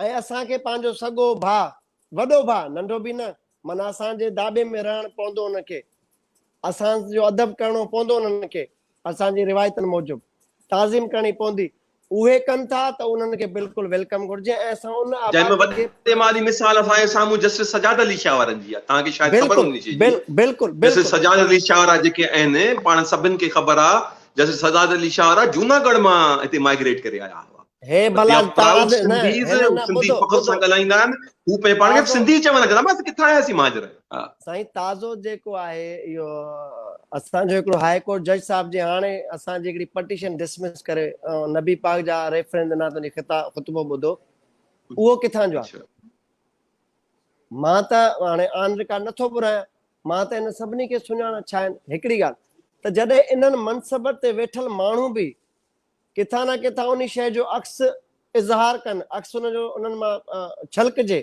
۽ اسان کي پنهنجو سڳو ڀاء، وڏو ڀاء، ننڍو به نه، معنيٰ اسان جي داٻي ۾ رهڻ پوندو انهن کي، اسان جو ادب ڪرڻو پوندو انهن کي، اسان جي روايتن موجب تعظيم ڪرڻي پوندي، اهي ڪن ٿا ته انهن کي بلڪل ويلڪم گهرجي ۽ اسان ان آبادي کي. جنهن ۾ وڏي مالي مثال اسان جي سامهون جسٽس سجاد علي شاهه وارن جي آهي، توهان کي شايد خبر هوندي شيء جي، جسٽس سجاد علي شاهه وارا جيڪي آهن، پاڻ سڀن کي خبر آهي، جسٽس سجاد علي شاهه وارا جوناڳڙهه مان هتي مائگريٽ ڪري آيا هئا. هي ڀلا تاج نه هن نه ٻڌو فخر سان ڳالهائيندا آهن هو پنهنجي پاڻ کي سنڌي چون لڳا ته بس ڪٿان آياسين مهاجر سائين تازو جيڪو آهي اهو اسان جو هڪڙو هاء ڪورٽ جج صاحب جي هاڻي اسان جي هڪڙي پٽيشن ڊسمس ڪري نبي پاڪ جا ريفرنس ڏنا تن جي خطا خطبو ٻڌو اهو ڪٿان جو آهي مان ته هاڻي آن رڪارڊ نٿو ٻرايان مان ته ان سڀني کي سڃاڻا ڇا آهن هڪڙي ڳالهه ته جڏهن انهن منصبن تي ويٺل ماڻهو به ڪٿان نه ڪٿان انهي شيء جو عڪس اظهار ڪن، عڪس ان جو انهن مان ڇلڪجي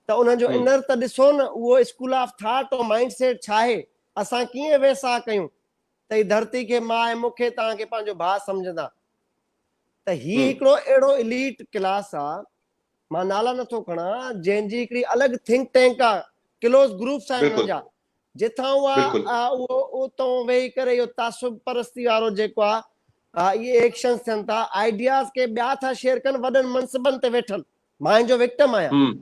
ته انهن جو انر ته ڏسو نه اهو school of thought ۽ mindset ڇا آهي؟ اسان ڪيئن ويساهه ڪيون ته هي ڌرتي کي ماء ۽ مون کي توهان کي پنهنجو ڀاء سمجهندا؟ ته هي هڪڙو اهڙو اليٽ ڪلاس آ، مان نالا نٿو کڻان، جنهن جي هڪڙي الڳ ٿنڪ ٽينڪ آ، ڪلوز گروپس آهن انهن جا، جتان اها بلڪل. اهو اتون ويهي ڪري اهو تعصب پرستي وارو جيڪو آ اهي ايڪشنز ٿين ٿا آئيڊياز ڪي ٻيا ٿا شيئر ڪن وڏن منصبن تي ويٺل مان ان جو وڪٽم آهيان هم.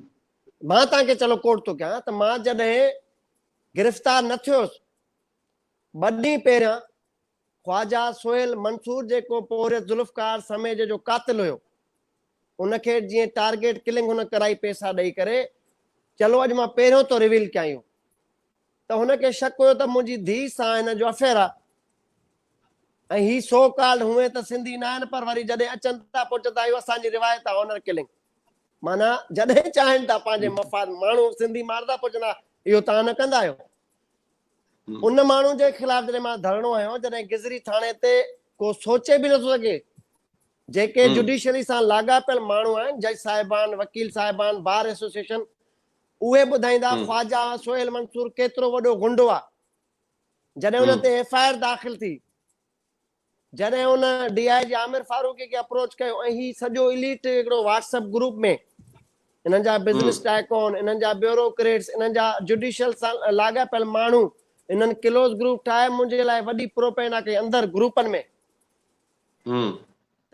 مان توهان کي چلو ڪوٽ ٿو ڪيان ته مان جڏهن گرفتار نه ٿيو هوس ٻه ڏينهن پهريان خواجه سهيل منصور جيڪو پورهيت ذوالفقار سميجي جو قاتل هيو ان کي جيئن ٽارگيٽ ڪلنگ هن ڪرائي پيسا ڏئي ڪري چلو اڄ مان پهريون ٿو ريويل ڪيان اهو ته هن کي شڪ هيو ته منهنجي ڌيء سان هن جو افيئر آهي ۽ هي سو ڪالڊ هونئن ته سنڌي نه آهن پر وري جڏهن اچن ٿا پوء چوندا اهو اسان جي روايت آهي آنر ڪلنگ معنيٰ جڏهن چاهين ٿا پنهنجي مفاد ماڻهو سنڌي ماردا پوء چوندا اهو تان نه ڪندا آهيو ان ماڻهو جي خلاف جڏهن مان ڌرڻو هنيو جڏهن گزري ٿاڻي تي ڪو سوچي به نٿو سگهي جيڪي جوڊيشري سان لاڳاپيل ماڻهو آهن جج صاحبان وڪيل صاحبان بار ايسوسيشن اهي ٻڌائيندا خواجا سهيل منصور ڪيترو وڏو غنڊو آ جڏهن ان تي ايف آء آر داخل ٿي جڏهن ان ڊي آء جي عامر فاروقي کي اپروچ ڪيو ۽ هي سڄو اليٽ هڪڙو واٽس اپ گروپ ۾ انهن جا بزنس ٽائيڪون انهن جا بيورو ڪريٽس انهن جا جوڊيشل سان لاڳاپيل ماڻهو انهن ڪلوز گروپ ٺاهي منهنجي لاء وڏي پروپينا ڪئي اندر گروپن ۾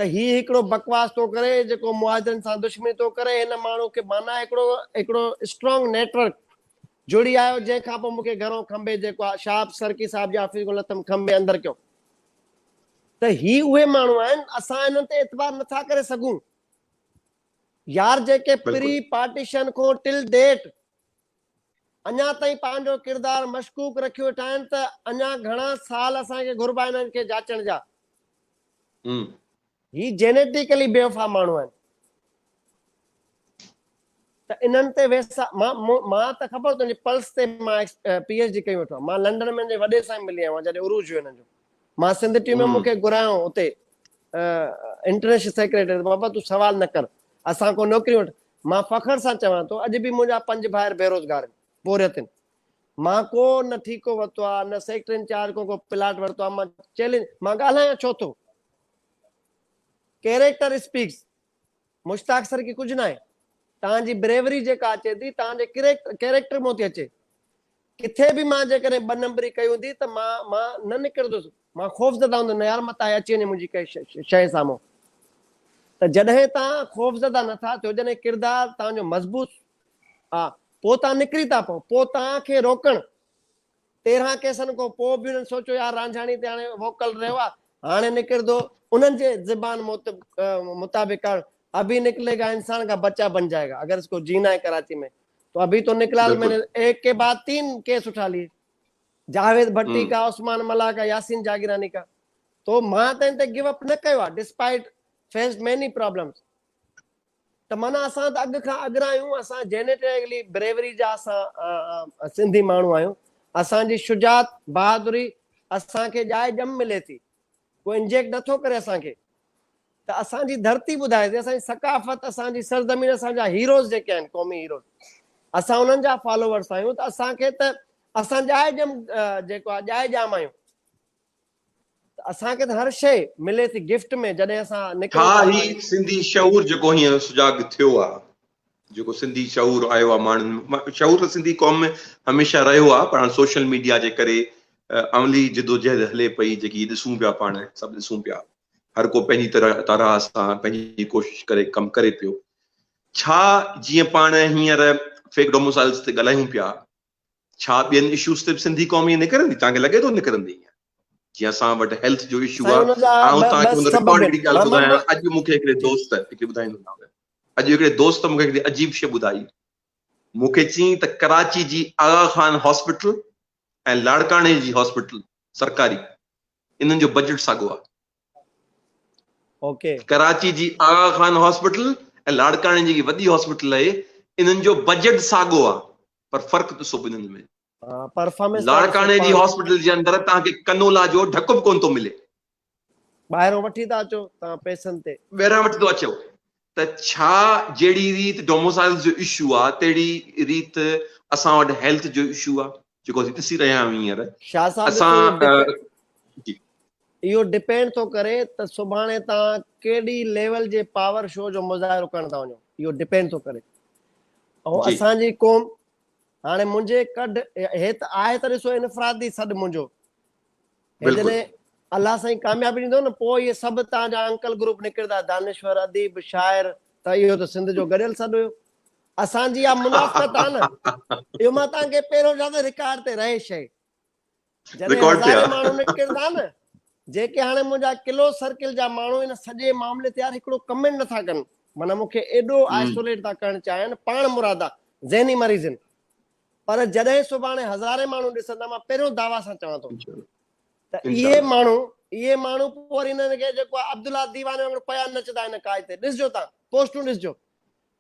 ته هي هڪڙو بڪواس ٿو ڪري جيڪو مهاجرن سان دشمني ٿو ڪري هن ماڻهو کي معنيٰ هڪڙو هڪڙو اسٽرانگ نيٽورڪ جڙي آيو جنهن کان پوء مون کي گهرو کنڀي جيڪو آ شهاب سرڪي صاحب جي آفيس کان لٿم کنڀي اندر ڪيو ته هي اهي ماڻهو آهن اسان انهن تي اعتبار نٿا ڪري سگهون يار جيڪي پري پارٽيشن کان ٽل ڊيٽ اڃا تائين پنهنجو ڪردار مشڪوڪ رکي ويٺا آهن ته اڃا گهڻا سال اسان کي گهربا آهن هنن کي جاچڻ جا. هي جينيٽيڪلي بيوفا ماڻهو آهن ته انهن تي ويسا مان ته خبر تنهنجي پلس تي مان پي ايچ ڊي ڪيو وٺو مان لنڊن ۾ جي وڏي سان ملي آيو جڏهن عروج هيو انهن جو مان سنڌ ٽيم ۾ مونکي گهرايو اتي انٽرنيشنل سيڪريٽري بابا تو سوال نه ڪر اسان کو نوڪري وٺ مان فخر سان چوان ٿو اڄ به منهنجا پنج ڀائر بيروزگار آهن، پورهيت آهن. مان ڪو نه ٺيڪو ورتو آهي، نه سيڪٽر انچارج کان ڪو پلاٽ ورتو آهي، مان چئلينج مان ڳالهايان ڇو ٿو؟ ڪيريڪٽر اسپيڪس مشتاق سر کي ڪجهه ناهي، توهان جي بريوري جيڪا اچي ٿي توهان جي ڪريڪٽر مون ٿي اچي. ڪٿي به مان جيڪڏهن ٻه نمبري ڪئي هوندي ته مان مان نه نڪرندس. مان خوفزده هوندس، نه يار متان اچي وڃي منهنجي ڪنهن شيء سامهون. ته جڏهن توهان خوفزده نه ٿا ٿيو، جڏهن ڪردار توهان جو مضبوط آ، پوء توهان نڪري ٿا پئو. پوء توهان کي روڪڻ. تيرهن ڪيسن کان پوء به انهن سوچيو يار رانجهاڻي تي هاڻي ووڪل رهيو آ، هاڻي نڪردو. انهن جي زبان مطابق ابهي نڪلي گا انسان ڪا بچا بن جائي گا اگر اس ڪو جينا هي ڪراچي ۾. تو ابھي تو نڪلا المين بلڪل. ايڪ ڪي بعد تين ڪيس اٺا ليي جاويد ڀٽي ڪا عثمان ملاح ڪا ياسين جاگيراني ڪا تو مان ته ان تي گو اپ نه ڪيو آ ڊسپائيٽ فيسڊ ميني پرابلمس ته معنيٰ اسان ته اڳ کان اڳرا آھيون اسان جينيٽيڪلي بريوري جا اسان سنڌي ماڻھو آھيون اسان جي شجاعت بھادري اسان کي ڄائي ڄم ملي ٿي ڪو انجيڪٽ نه ٿو ڪري اسان کي ته اسان جي ڌرتي ٻڌائي سي اسان جي ثقافت اسان جي سرزمين اسان جا هيروز جيڪي آهن قومي هيروز اسان انهن جا فالوورس آهيون ته اسان کي ته اسان ڄائي ڄم جيڪو آهي ڄائي ڄام آهيون اسان کي ته هر شيء ملي ٿي گفٽ ۾ جڏهن اسان نڪرون ها هي سنڌي شعور جيڪو هينئر سجاڳ ٿيو آهي جيڪو سنڌي شعور آيو آ ماڻهن م شعور ته سنڌي قوم ۾ هميشه رهيو آ پر هاڻ سوشل ميڊيا جي ڪري عملي جدوجهد هلي پئي جيڪي ڏسون پيا پاڻ سڀ ڏسون پيا هر ڪو پنهنجي طرح طرح سان پنهنجي ڪوشش ڪري ڪم ڪري پيو ڇا جيئن پاڻ هينئر فيڪ ڊوموسائلز تي ڳالهايون پيا ڇا ٻين اشوز تي به سنڌي قوم ائين نڪرندي توهان کي لڳي ٿو نڪرندي ائين جيئن اسان وٽ هيلٿ جو اشو آهي آئون توهان کي ان رڪارڊ هڪڙي ڳالهه ٻڌايان اڄ مون کي هڪڙي دوست هڪڙي ٻڌائيندو مان اڄ هڪڙي دوست مون کي هڪڙي عجيب شي ٻڌائي مون کي چين ته ڪراچي جي آغا خان هاسپيٽل ۽ لاڙڪاڻي جي هاسپيٽل سرڪاري انهن جو بجيٽ ساڳو آهي اوڪي ڪراچي جي آغا خان هاسپيٽل ۽ لاڙڪاڻي جي وڏي هاسپيٽل آهي انهن جو بجيٽ ساڳو آهي پر فرق ڏسو ٻنهين ۾. پرفارمنس ته ڏسو لاڙڪاڻي جي پاڻ. هاسپيٽل جي اندر توهان کي ڪنولا جو ڍڪ به ڪونه ٿو ملي. ٻاهران وٺي ٿا اچو توهان پئسن تي. ٻاهران وٺي ٿو اچو ته ڇا جهڙي ريت ڊوموسائيلز جو اشو آ تهڙي ريت اسان وٽ هيلٿ جو اشو آ جيڪو اسين ڏسي رهيا آهيون هينئر شاهه صاحب جي اسان ڪوئي ڊڪ جي اهو ڊپينڊ ٿو ڪري ته سڀاڻي توهان ڪهڙي ليول جي پاور شو جو مظاهرو ڪرڻ ٿا وڃو اهو ڊپينڊ ٿو ڪري ۽ اسان جي قوم هاڻي منهنجي ڪڍ هي ته آهي ته ڏسو انفرادي سڏ منهنجو جڏهن الله سائين ڪاميابي ڏيندو نه پوء اهي سڀ تان جا انڪل گروپ نڪردا دانشور اديب شاعر ته اهو ته سنڌ جو گڏيل سڏ هيو اسان جي اها منافقت آهي نه اهو مان تان کي پهريون چاهيان ته رڪارڊ تي رهي شيء جڏهن هزارين ماڻهو نڪرن ٿا نه جيڪي هاڻي منهنجا ڪلو سرڪل جا ماڻهو ان سڄي معاملي تي يار هڪڙو ڪمينٽ نٿا ڪن معنيٰ مون کي ايڏو آئسوليٽ ٿا ڪرڻ چاهين پاڻ مرادا ذهني مريضن پر جڏهن سڀاڻي هزارين ماڻهو ڏسندا مان پهريون دعويٰ سان چوان ٿو ته اهي ماڻهو اهي ماڻهو پوء وري انهن کي جيڪو عبدالله ديواني وانگر پيا نچدا آهن قائد تي ڏسجو تان پوسٽون ڏسجو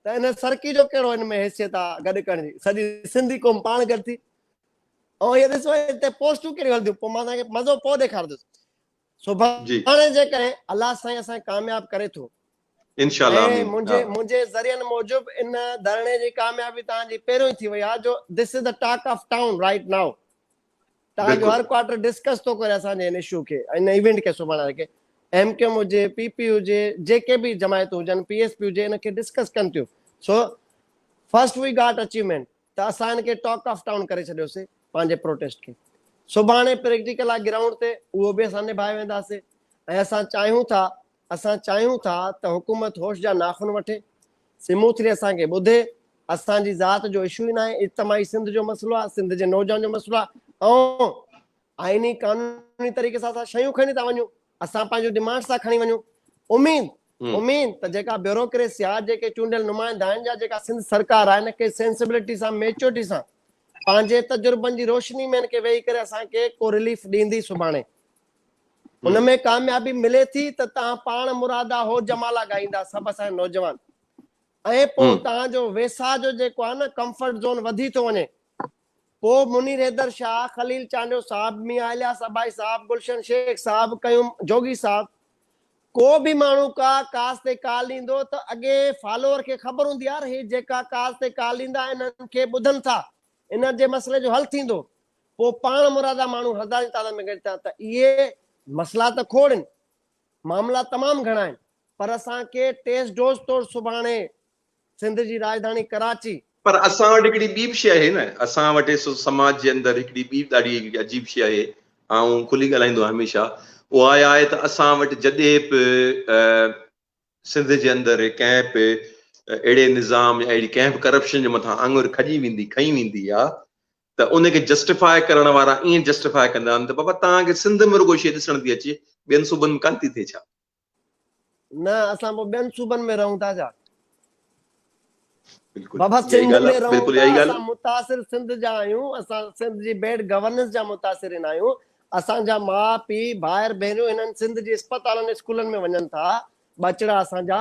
ته ان سرڪي جو ڪهڙو ان ۾ حيثيت آ گڏ ڪرڻ جي سڄي سنڌي قوم پاڻ گڏ ٿي ۽ هي ڏسو هتي پوسٽون ڪهڙيون هلنديون پوء مان توهان کي مزو پوء ڏيکاردس سڀاڻي جي ڪري الله سائين اسان ڪامياب ڪري ٿو انشاءالله امين منهنجي منهنجي ذريعن موجب ان ڌرڻي جي ڪاميابي توهان جي پهريون ئي ٿي وئي آ جو this is a talk of town right now تان جو هر ڪوارٽر ڊسڪس ٿو ڪري اسان جي هن اشو کي ۽ هن ايونٽ کي سڀاڻي کي ايم ڪيو ايم هجي پي پي هجي جيڪي به جماعتون هجن پي ايس پي هجي ان کي ڊسڪس ڪن ٿيون so first we got achievement ته اسان هن کي ٽاڪ آف ٽائون ڪري ڇڏيوسي پنهنجي پروٽيسٽ کي سڀاڻي پريڪٽيڪل آ گرائونڊ تي اهو به اسان نڀائي وينداسي ۽ اسان چاهيون ٿا اسان چاهيون ٿا ته حڪومت هوش جا ناخن وٺي، سموٿلي اسان کي ٻڌي، اسان جي ذات جو اشو ئي ناهي، اجتماعي سنڌ جو مسئلو آهي، سنڌ جي نوجوان جو مسئلو آهي ۽ آئيني قانوني طريقي سان اسان شيون کڻي ٿا وڃون، اسان پنهنجون ڊمانڊس ٿا کڻي وڃون، اميد اميد ته جيڪا بيوروڪريسي آهي، جيڪي چونڊيل نمائندا آهن يا جيڪا سنڌ سرڪار آهي ان کي سينسبلٽي سان ميچورٽي سان پنهنجي تجربن جي روشني ۾ ان کي ويهي ڪري اسان کي ڪو رليف ڏيندي سڀاڻي. ان ۾ ڪاميابي ملي ٿي ته توهان پاڻ مرادا هو جمالا ڳائيندا سڀ اسان جا نوجوان ۽ پوء توهان جو ويساء جو جيڪو آهي نه ڪمفرٽ زون وڌي ٿو وڃي پوء منير حيدر شاهه خليل چانڊيو صاحب ميان الياس ابائي صاحب گلشن شيخ صاحب قيوم جوڳي صاحب ڪو به ماڻهو ڪا ڪاز تي ڪال ڏيندو ته اڳي فالوور کي خبر هوندي يار هي جيڪا ڪاز تي ڪال ڏيندا آهن انهن کي ٻڌن ٿا انهن جي مسئلي جو حل ٿيندو پوء پاڻ مرادا ماڻهو هزارين جي تعداد ۾ گڏجان ته اهي مسئلا ته کوڙ آهن، معاملا تمام گهڻا آهن، پر اسان کي ٽيسٽ ڊوز طور سڀاڻي سنڌ جي راڄڌاڻي ڪراچي. پر اسان وٽ هڪڙي ٻي به شيء آهي نه، اسان وٽ ايس او سماج جي اندر هڪڙي ٻي ڏاڍي هڪڙي عجيب شيء آهي، آئون کلي ڳالهائيندو آهيان هميشه، اها اها آهي ته اسان وٽ جڏهن به سنڌ جي اندر ڪنهن به اهڙي نظام يا اهڙي ڪنهن به ڪرپشن جي مٿان آڱر کڄي ويندي، کنئي ويندي آ ته ان کي جسٽيفاء ڪرڻ وارا ائين جسٽيفاء ڪندا آهن ته بابا توهان کي سنڌ ۾ رڳو شيء ڏسڻ ٿي اچي ٻين صوبن ۾ ڪانه ٿي ٿئي ڇا؟ نه اسان پوء ٻين صوبن ۾ رهون ٿا ڇا؟ بابا سنڌ ۾ رهون ٿا اسان متاثر سنڌ جا آهيون اسان سنڌ جي بيڊ گورننس جا متاثرين آهيون اسان جا ماء پيء ڀائر ڀينريون هنن سنڌ جي اسپتالن اسڪولن ۾ وڃن ٿا ٻچڙا اسان جا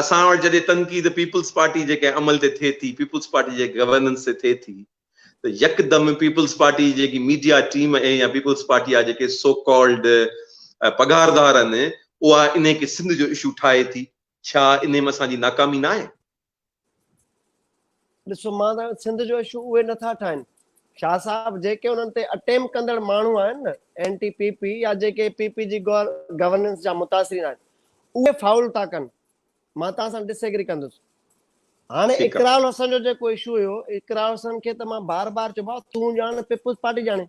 اسان وٽ جڏهن تنقيد پيپلز پارٽي جي ڪنهن عمل تي ٿئي ٿي، پيپلز پارٽي جي گورننس تي ٿئي ٿي ته يڪدم پيپلز پارٽي جي جيڪي ميڊيا ٽيم ۽ يا پيپلز پارٽي جا جيڪي سو ڪالڊ پگهاردار آهن اها انهي کي سنڌ جو اشو ٺاهي ٿي، ڇا انهي ۾ اسان جي ناڪامي ناهي؟ ڏسو مان تان سنڌ جو اشو اهي نه ٿا ٺاهن شاهه صاحب جيڪي انهن تي اٽيم ڪندڙ ماڻهو آهن نه اين ٽي پي پي يا جيڪي پي پي جي گورننس جا متاثرين آهن اهي فاول ٿا ڪن مان تان سان ڊس ايگري ڪندس هاڻي اقرار الحسن جو جيڪو اشو هيو اقرار الحسن کي ته مان بار بار چوبا تون ڄاڻ پيپلز پارٽي ڄاڻي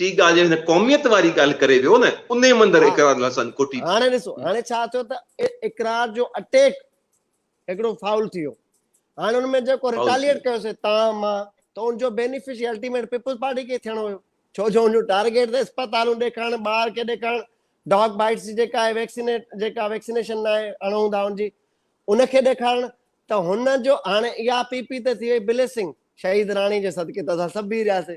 ٽي ڳالهه جو هن قوميت واري ڳالهه ڪري ويو نه انهي مندر اقرار الحسن ڪوٽي ٿي. هاڻي ڏسو هاڻي ڇا ٿيو ته اقرار جو اٽيڪ هڪڙو فائول ٿي ويو هاڻي ان ۾ جيڪو رٽاليئيٽ ڪيو سي تان مان ته ان جو بينيفشري الٽيميٽ پيپلز پارٽي کي ٿيڻو هيو ڇو جو ان جو ٽارگيٽ ته اسپتالون ڏيکارڻ ٻار کي ڏيکارڻ ڊاگ بائيٽس جي جيڪا آهي ويڪسينيٽ جيڪا ويڪسينيشن نه آهي اڻهون ٿا ان جي ان کي ڏيکارڻ ته هن جو هاڻي اها پي پي ته ٿي وئي بليسنگ شهيد راڻي جي صدقي ته اسان سڀ بيهي رهياسي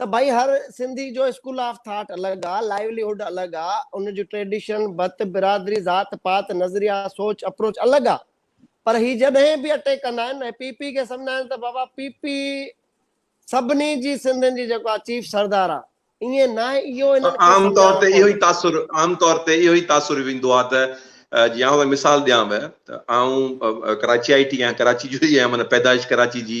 ته ڀائي هر سنڌي جو اسڪول آف ٿاٽ الڳ آ، لائيولي هوڊ الڳ آ، ان جون ٽريڊيشن، بت، برادري، ذات پات، نظريا، سوچ، اپروچ الڳ آ، پر هي جڏهن به اٽيڪ ڪندا آهن ۽ پي پي کي سمجهندا آهن ته بابا پي پي سڀني جي سنڌين جي جيڪو آ چيف سردار آ، ائين ناهي اهو انهن کي سمجهاڻو پوندو. عام طور تي اهو ئي تاثر، عام طور تي اهو ئي تاثر ويندو آ ته جي آئون ڀائي مثال ڏيانوء ته آئون ڪراچيائٽ ئي آهيان، ڪراچي جو ئي آهيان معنيٰ پيدائش ڪراچي جي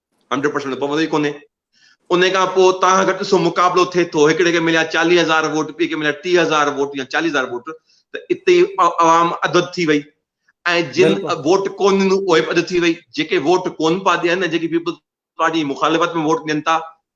هنڊريڊ پرسنٽ ته پوندو ئي ڪونهي. انهي کان پوء اتان کان گهٽ سو مقابلو ٿئي ٿو، هڪڙي کي مليا چاليهه هزار ووٽ، ٻئي کي مليا ٽيهه هزار ووٽ يا چاليهه هزار ووٽ ته اتي ئي عوام اڌ اڌ ٿي وئي ۽ جن ووٽ ڪونه ڏنو اهي به اڌ ٿي وئي. جيڪي ووٽ ڪونه پيا ڏين ۽ جيڪي پيپلز پارٽي جي مخالفت ۾ ووٽ ڏين ٿا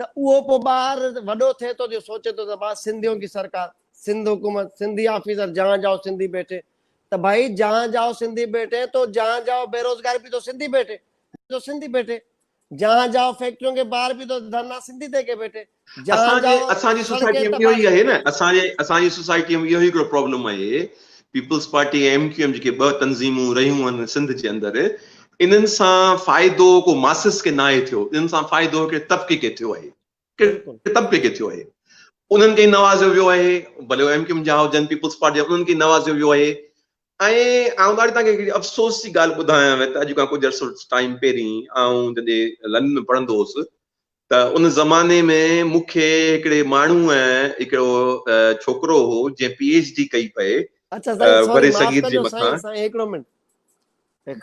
ته اهو پوء ٻار وڏو ٿئي ٿو جو سوچي ٿو ته مان سنڌيون ڪي سرڪار، سنڌ حڪومت، سنڌي آفيسر جهان جاهو سنڌي بيٺي ته ڀائي جهان جاهو سنڌي بيٺي تو جهان جاهو بيروزگاري به تو سنڌي بيٺي تو سنڌي بيٺي جهان جاهو فيڪٽريون کي بار به تو ڌرنا سنڌي دي ڪي بيٺي جهان جاهو اسان جي سوسائٽي ۾ اهو ئي آهي نه اسان جي اسان جي سوسائٽي ۾ اهو ئي هڪڙو پرابلم آهي Peoples Party ۽ M Q M جيڪي ٻه تنظيمون رهيون آهن سنڌ جي اندر انهن سان فائدو ڪو ماسس کي ناهي ٿيو، انهن سان فائدو هڪڙي طبقي کي ٿيو آهي، هڪڙي طبقي کي ٿيو آهي. انهن کي ئي نوازيو ويو آهي، ڀلي اهي ايم ڪيو ايم جا هجن، پيپلز پارٽي جا، انهن کي ئي نوازيو ويو آهي. ۽ آئون ڏاڍي توهان کي هڪڙي افسوس جي ڳالهه ٻڌايانء ته اڄ کان ڪجهه عرصو ٽائيم پهرين آئون جڏهن لنڊن ۾ پڙهندو هوس ته ان زماني ۾ مون کي هڪڙي ماڻهوء هڪڙو ڇوڪرو هو جنهن پي ايڇ ڊي ڪئي پئي اچا سائين سوري معاف ڪجو سائين سائين هڪڙو منٽ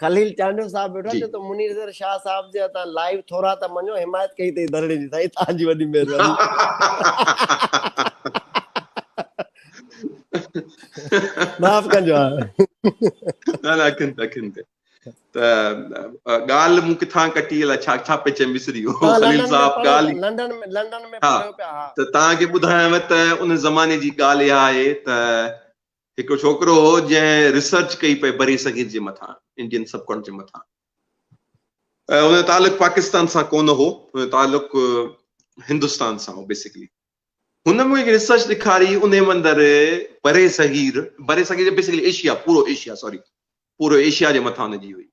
خليل چانڊيو صاحب ويٺو آهي چئي ٿو منير زر شاهه صاحب جي هٿان لائيو ٿورا ته مڃو حمايت ڪئي اٿئي ڌرڻي جي سائين توهان جي وڏي مهرباني معاف ڪجو نه نه اکين تي اکين تي ته ڳالهه مون ڪٿان ڪٽي الا ڇا ڇا پئي چيم وسري ويو خليل صاحب ڳالهه لنڊن ۾ لنڊن ۾ پڙهيو پيا ها ته تان کي ٻڌايم ته ان زماني جي ڳالهه اها آهي ته هڪ ڇوڪرو هو جنهن ريسرچ ڪئي پئي بري صغير جي مٿان انڊين سب ڪونٽ جي مٿان ان تعلق پاڪستان سان ڪونه هو ان تعلق هندستان سان هو بيسيڪلي هن مون کي هڪ ريسرچ ڏيکاري انهيء مندر بري صغير بري صغير بيسڪلي ايشيا پورو ايشيا سوري پورو ايشيا جي مٿان ان جي هئي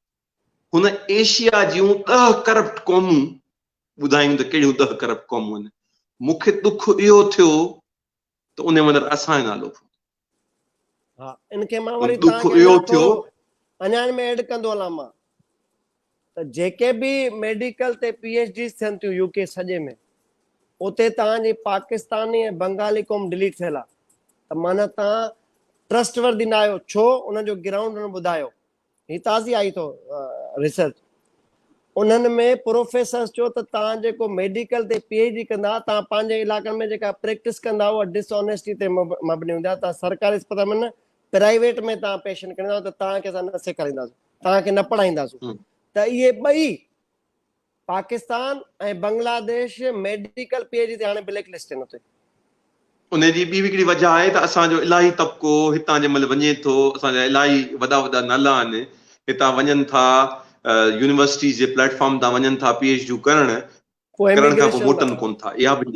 هن ايشيا جون ڏهه ڪرپٽ قومون ٻڌايون ته ڪهڙيون ڏهه ڪرپٽ قومون آهن مون کي ڏک اهو ٿيو ته انهيء مندر اسان جو نالو ها ان کي مان وري تان کي اهو ٿيو اڃا ان ۾ ايڊ ڪندو هلان مان ته جيڪي به ميڊيڪل تي پي ايچ ڊيز ٿين ٿيون يو ڪي سڄي ۾ اتي تان جي پاڪستاني ۽ بنگالي قوم ڊيليٽ ٿيل آ ته معنيٰ تان ٽرسٽ وردي نه آهيو ڇو ان جو گرائونڊ ان ٻڌايو هي تازي آئي اٿو ريسرچ انهن ۾ پروفيسرس چيو ته توهان جيڪو ميڊيڪل تي پي ايڇ ڊي ڪندا ها توهان پنهنجي علائقن ۾ جيڪا پريڪٽس ڪندا اها ڊس آنيسٽي تي مبني هوندي آهي توهان سرڪاري اسپتال ۾ نه پرائيويٽ ۾ توهان پيشنٽ کڻندا ته توهان کي اسان نه سيکارينداسون توهان کي نه پڙهائينداسون ته اهي ٻئي Pakistan ۽ Bangladesh medical P H D تي هاڻي بليڪ لسٽ ڏنو اٿئي. ان جي ٻي به هڪڙي وجهه آهي ته اسان جو الاهي طبقو هتان جنهن مهل وڃي ٿو، اسان جا الاهي وڏا وڏا نالا آهن، هتان وڃن ٿا، يونيورسٽيز جي پليٽ فارم تان وڃن ٿا پي ايڇ ڊيون ڪرڻ، ڪرڻ کان پوء موٽن ڪونه ٿا. اها به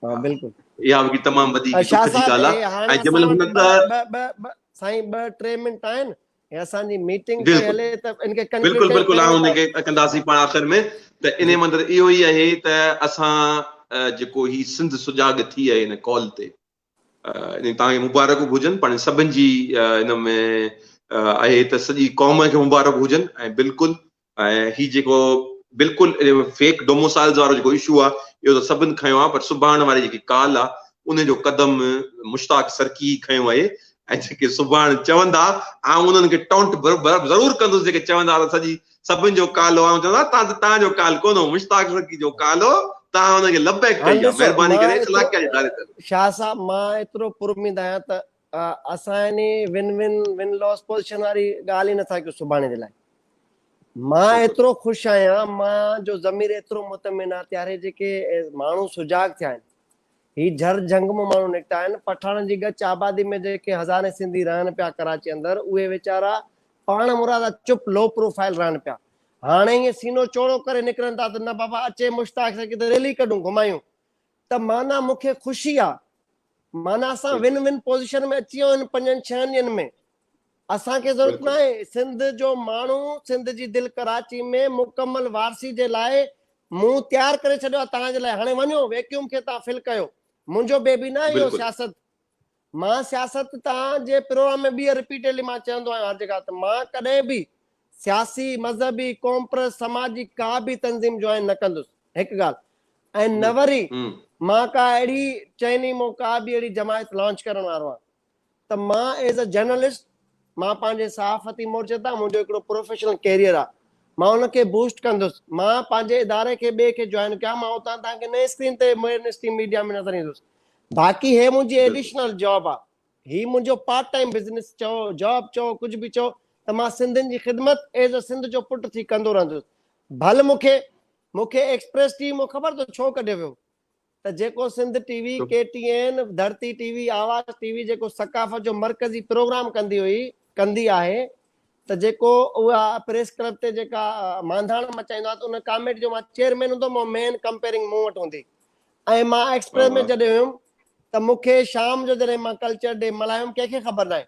اها به هڪڙي تمام وڏي هڪڙي ڏک جي ڳالهه آهي ۽ جنهن مهل هنن ته. سائين ٻه ٽي منٽ آهن، هي اسان جي ميٽنگ پئي هلي ته ان کي ڪنڪلوڊ بلڪل بلڪل آئون ان کي ڪنداسين پاڻ آخر ۾ ته انهي مان اندر اهو ئي آهي ته اسان جيڪو هي سنڌ سجاڳ ٿي آهي ان ڪال تي يعني توهان کي مبارڪون به هجن پاڻ سڀن جي ان ۾ آهي ته سڄي قوم کي مبارڪ هجن ۽ بلڪل ۽ هي جيڪو بلڪل فيڪ ڊوموسائلز وارو جيڪو اشو آ اهو ته سڀن کنيو آ پر سڀاڻ واري جيڪي ڪال آ ان جو قدم مشتاق سرڪي ئي کنيو آهي ۽ جيڪي سڀاڻ چوندا آئون انهن کي ٽونٽ ضرور ڪندس جيڪي چوندا ته سڄي سڀن جو ڪال هو آئون چوندا تان ته تان جو ڪال ڪونه هو مشتاق سرڪي جو ڪال هو تان انهن کي لبيڪ ڪئي آ مهرباني ڪري الاقي جي دارين ته شاهه صاحب مان ايترو پراميد آهيان ته اسان يعني win win win lose position واري ڳالهه ئي نٿا ڪيون سڀاڻي جي لاء. مان ايترو خوش آهيان مان جو ضمير ايترو مطمئن آ تياري جيڪي ماڻهو سجاڳ ٿيا آهن هي جھر جھنگ مون ماڻهو نڪتا آهن پٺاڻن جي ڳچ آبادي ۾ جيڪي هزارين سنڌي رهن پيا ڪراچي اندر اهي ويچارا پاڻ مرادا چپ لو پروفائل رهن پيا هاڻي ائين سينو چوڙو ڪري نڪرن ٿا ته نه بابا اچي مشتاق سان ڪٿي ريلي ڪڍون گھمايون ته معنيٰ مون کي خوشي آ. معنيٰ اسان ون ون پوزيشن ۾ اچي ويو ان پنجن ڇهن ڏينهن ۾. اسان کي ضرورت ناهي سنڌ جو ماڻهو سنڌ جي دل ڪراچي ۾ مڪمل وارثي جي لاء مون تيار ڪري ڇڏيو آ توهان جي لاء هاڻي وڃو ويڪيوم کي تان فل ڪيو منهنجو بيبي ناهي اهو سياست. مان سياست تان جي پروگرام ۾ ٻيهر رپيٽيڊلي مان چوندو آهيان هر جڳهه ته مان ڪڏهن به سياسي، مذهبي، ڪومپرس، سماجي ڪا به تنظيم جوائن نه ڪندس هڪ ڳالهه ۽ نه وري مان ڪا اهڙي چئني مون ڪا به اهڙي جماعت لانچ ڪرڻ وارو آهيان ته مان ايز اي جرنلسٽ مان پنهنجي صحافتي مورچي تان منهنجو هڪڙو پروفيشنل ڪيريئر آهي مان ان کي بوسٽ ڪندس مان پنهنجي اداري کي ٻئي کي جوائن ڪيان مان اتان تان کي نئين اسڪرين تي ميڊ اسٽريم ميڊيا ۾ نظر ايندس باقي هي منهنجي ايڊيشنل جاب آ هي منهنجو پارٽ ٽائيم بزنس چئو جاب چئو ڪجهه به چئو ته مان سنڌين جي خدمت ايز ا سنڌ جو پٽ ٿي ڪندو رهندس ڀل مون کي مون کي ايڪسپريس ٽي وي مون خبر تو ڇو ڪڍيو ويو ته جيڪو Sindh T V K T N Dharti T V آواز ٽي وي جيڪو ثقافت جو مرڪزي پروگرام ڪندي هئي ڪندي آهي ته جيڪو اها پريس ڪلب تي جيڪا مانڌاڻ مچائيندو آهي ته ان ڪاميٽي جو مان چيئرمين هوندو مين ڪمپيرنگ مون وٽ هوندي ۽ مان ايڪسپريس ۾ چڏهيو هيم ته مون کي شام جو جڏهن مان ڪلچر ڊي ملهايو هيم ڪنهن کي خبر ناهي.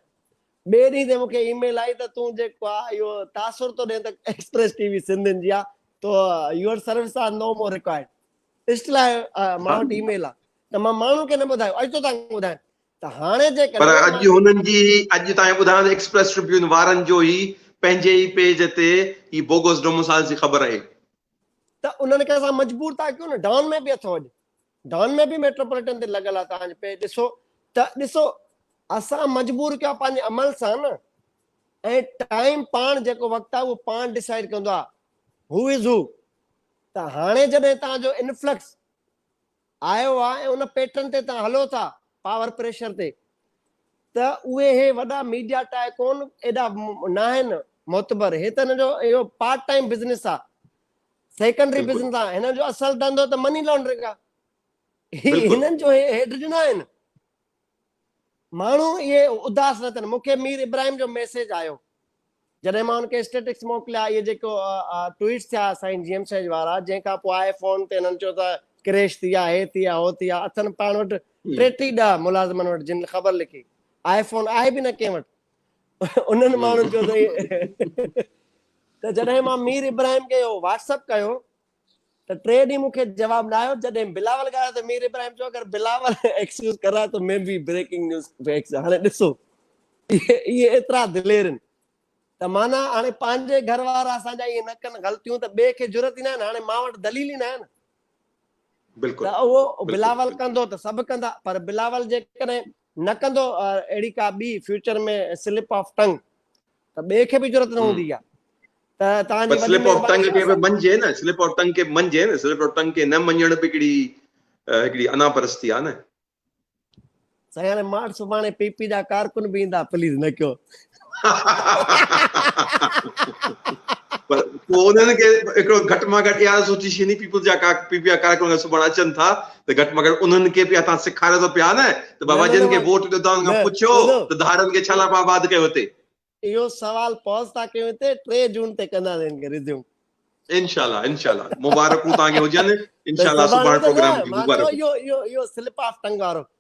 ٻئي ڏينهن تي مون کي اي ميل آئي ته تون جيڪو آ اهو تاثر ٿو ڏين ته ايڪسپريس ٽي وي سنڌين جي آ تو your service are no more required still I مان وٽ اي ميل آ ته مان ماڻهن کي نه ٻڌايو اڄ تو تان ٻڌايان ته هاڻي جيڪڏهن پر اڄ هنن جي اڄ تان ٻڌايان ته ايڪسپريس ٽربيون وارن جو ئي پنهنجي ئي پيج تي هي بوگس ڊومسائلز جي خبر آهي ته انهن کي اسان مجبور ٿا ڪيون نه ڊان ۾ به اٿو اڄ ڊان ۾ به ميٽروپوليٽن تي لڳل آ تان پي ڏسو ته ڏسو اسان مجبور ڪيو پنهنجي عمل سان نه ۽ ٽائيم پاڻ جيڪو وقت آ اهو پاڻ ڊيسائيڊ ڪندو آ هو از هو ته هاڻي جڏهن تان جو انفلڪس آيو آ ۽ ان پيٽرن تي توهان هلو ٿا پاور پريشر تي ته اهي هي وڏا ميڊيا ٽائي ڪون ايڏا ناهن معتبر هي ته هن جو اهو پارٽ ٽائيم بزنس آ سيڪنڊري بزنس آ هنن جو اصل ڌنڌو ته مني لانڊرنگ آ هنن جو هيڊ ڏنا آهن ماڻهو اهي اداس نه ٿين. مون کي مير ابراهيم جو ميسيج آيو. جڏهن مان هن کي اسٽيٽڪس موڪليا، اهي جيڪو ٽوئيٽس ٿيا سائين جي ايم سيج وارا، جنهن کان پوء آء فون تي هنن چيو ته ڪريش ٿي آ، هي ٿي آ، هو ٿي آ، اٿن پاڻ وٽ ٽيٽي ڏهه ملازمن وٽ جن خبر لکي. آء فون آهي به نه ڪنهن وٽ. انهن ماڻهن چيو ته جڏهن مان مير ابراهيم کي اهو واٽس اپ ڪيو، ته ٽي ڏينهن مون کي جواب نه آيو جڏهن بلاول ڳالهايو ته مير ابراهيم چيو اگر بلاول ايڪسڪيوز ڪر رها هي تو مين بي بريڪنگ نيوز فيڪس هاڻي ڏسو اهي ايترا دلير آهن ته معنيٰ هاڻي پنهنجي گهر وارا اسان جا ائين نه ڪن غلطيون ته ٻئي کي جرئت ئي ناهي نه هاڻي مان وٽ دليل ئي ناهي نه بلڪل ته اهو بلاول ڪندو ته سڀ ڪندا پر بلاول جيڪڏهن نه ڪندو اهڙي ڪا ٻي فيوچر ۾ سلپ آف ٽنگ ته ٻئي کي به جرت نه هوندي آ ته توهان جي سلپ آف ٽنگ کي به مڃجي نه سلپ آف ٽنگ کي مڃجي نه سلپ آف ٽنگ کي نه مڃڻ به هڪڙي هڪڙي انا پرستي آ نه سائين هاڻي ماٺ سڀاڻي پي پي جا ڪارڪن به ايندا پليز نه ڪيو پر پوء انهن کي هڪڙو گهٽ مان گهٽ اها سوچي شيني پيپلز جا ڪا پي پي آر ڪارڪن اگر سڀاڻي اچن ٿا ته گهٽ مان گهٽ انهن کي پيا تان سکاريو ته پيا نه ته بابا جن کي ووٽ ڏيو تان کان پڇيو ته ڌارن کي ڇا لاء پا آباد ڪيو هتي اهو سوال پوز ٿا ڪيون هتي 3 جون تي ڪندا سين کي ريزيوم انشاءالله انشاءالله مبارڪون تان کي هجن انشاءالله سڀاڻي پروگرام جي مبارڪون اهو اهو اهو سلپ آف ٽنگ وارو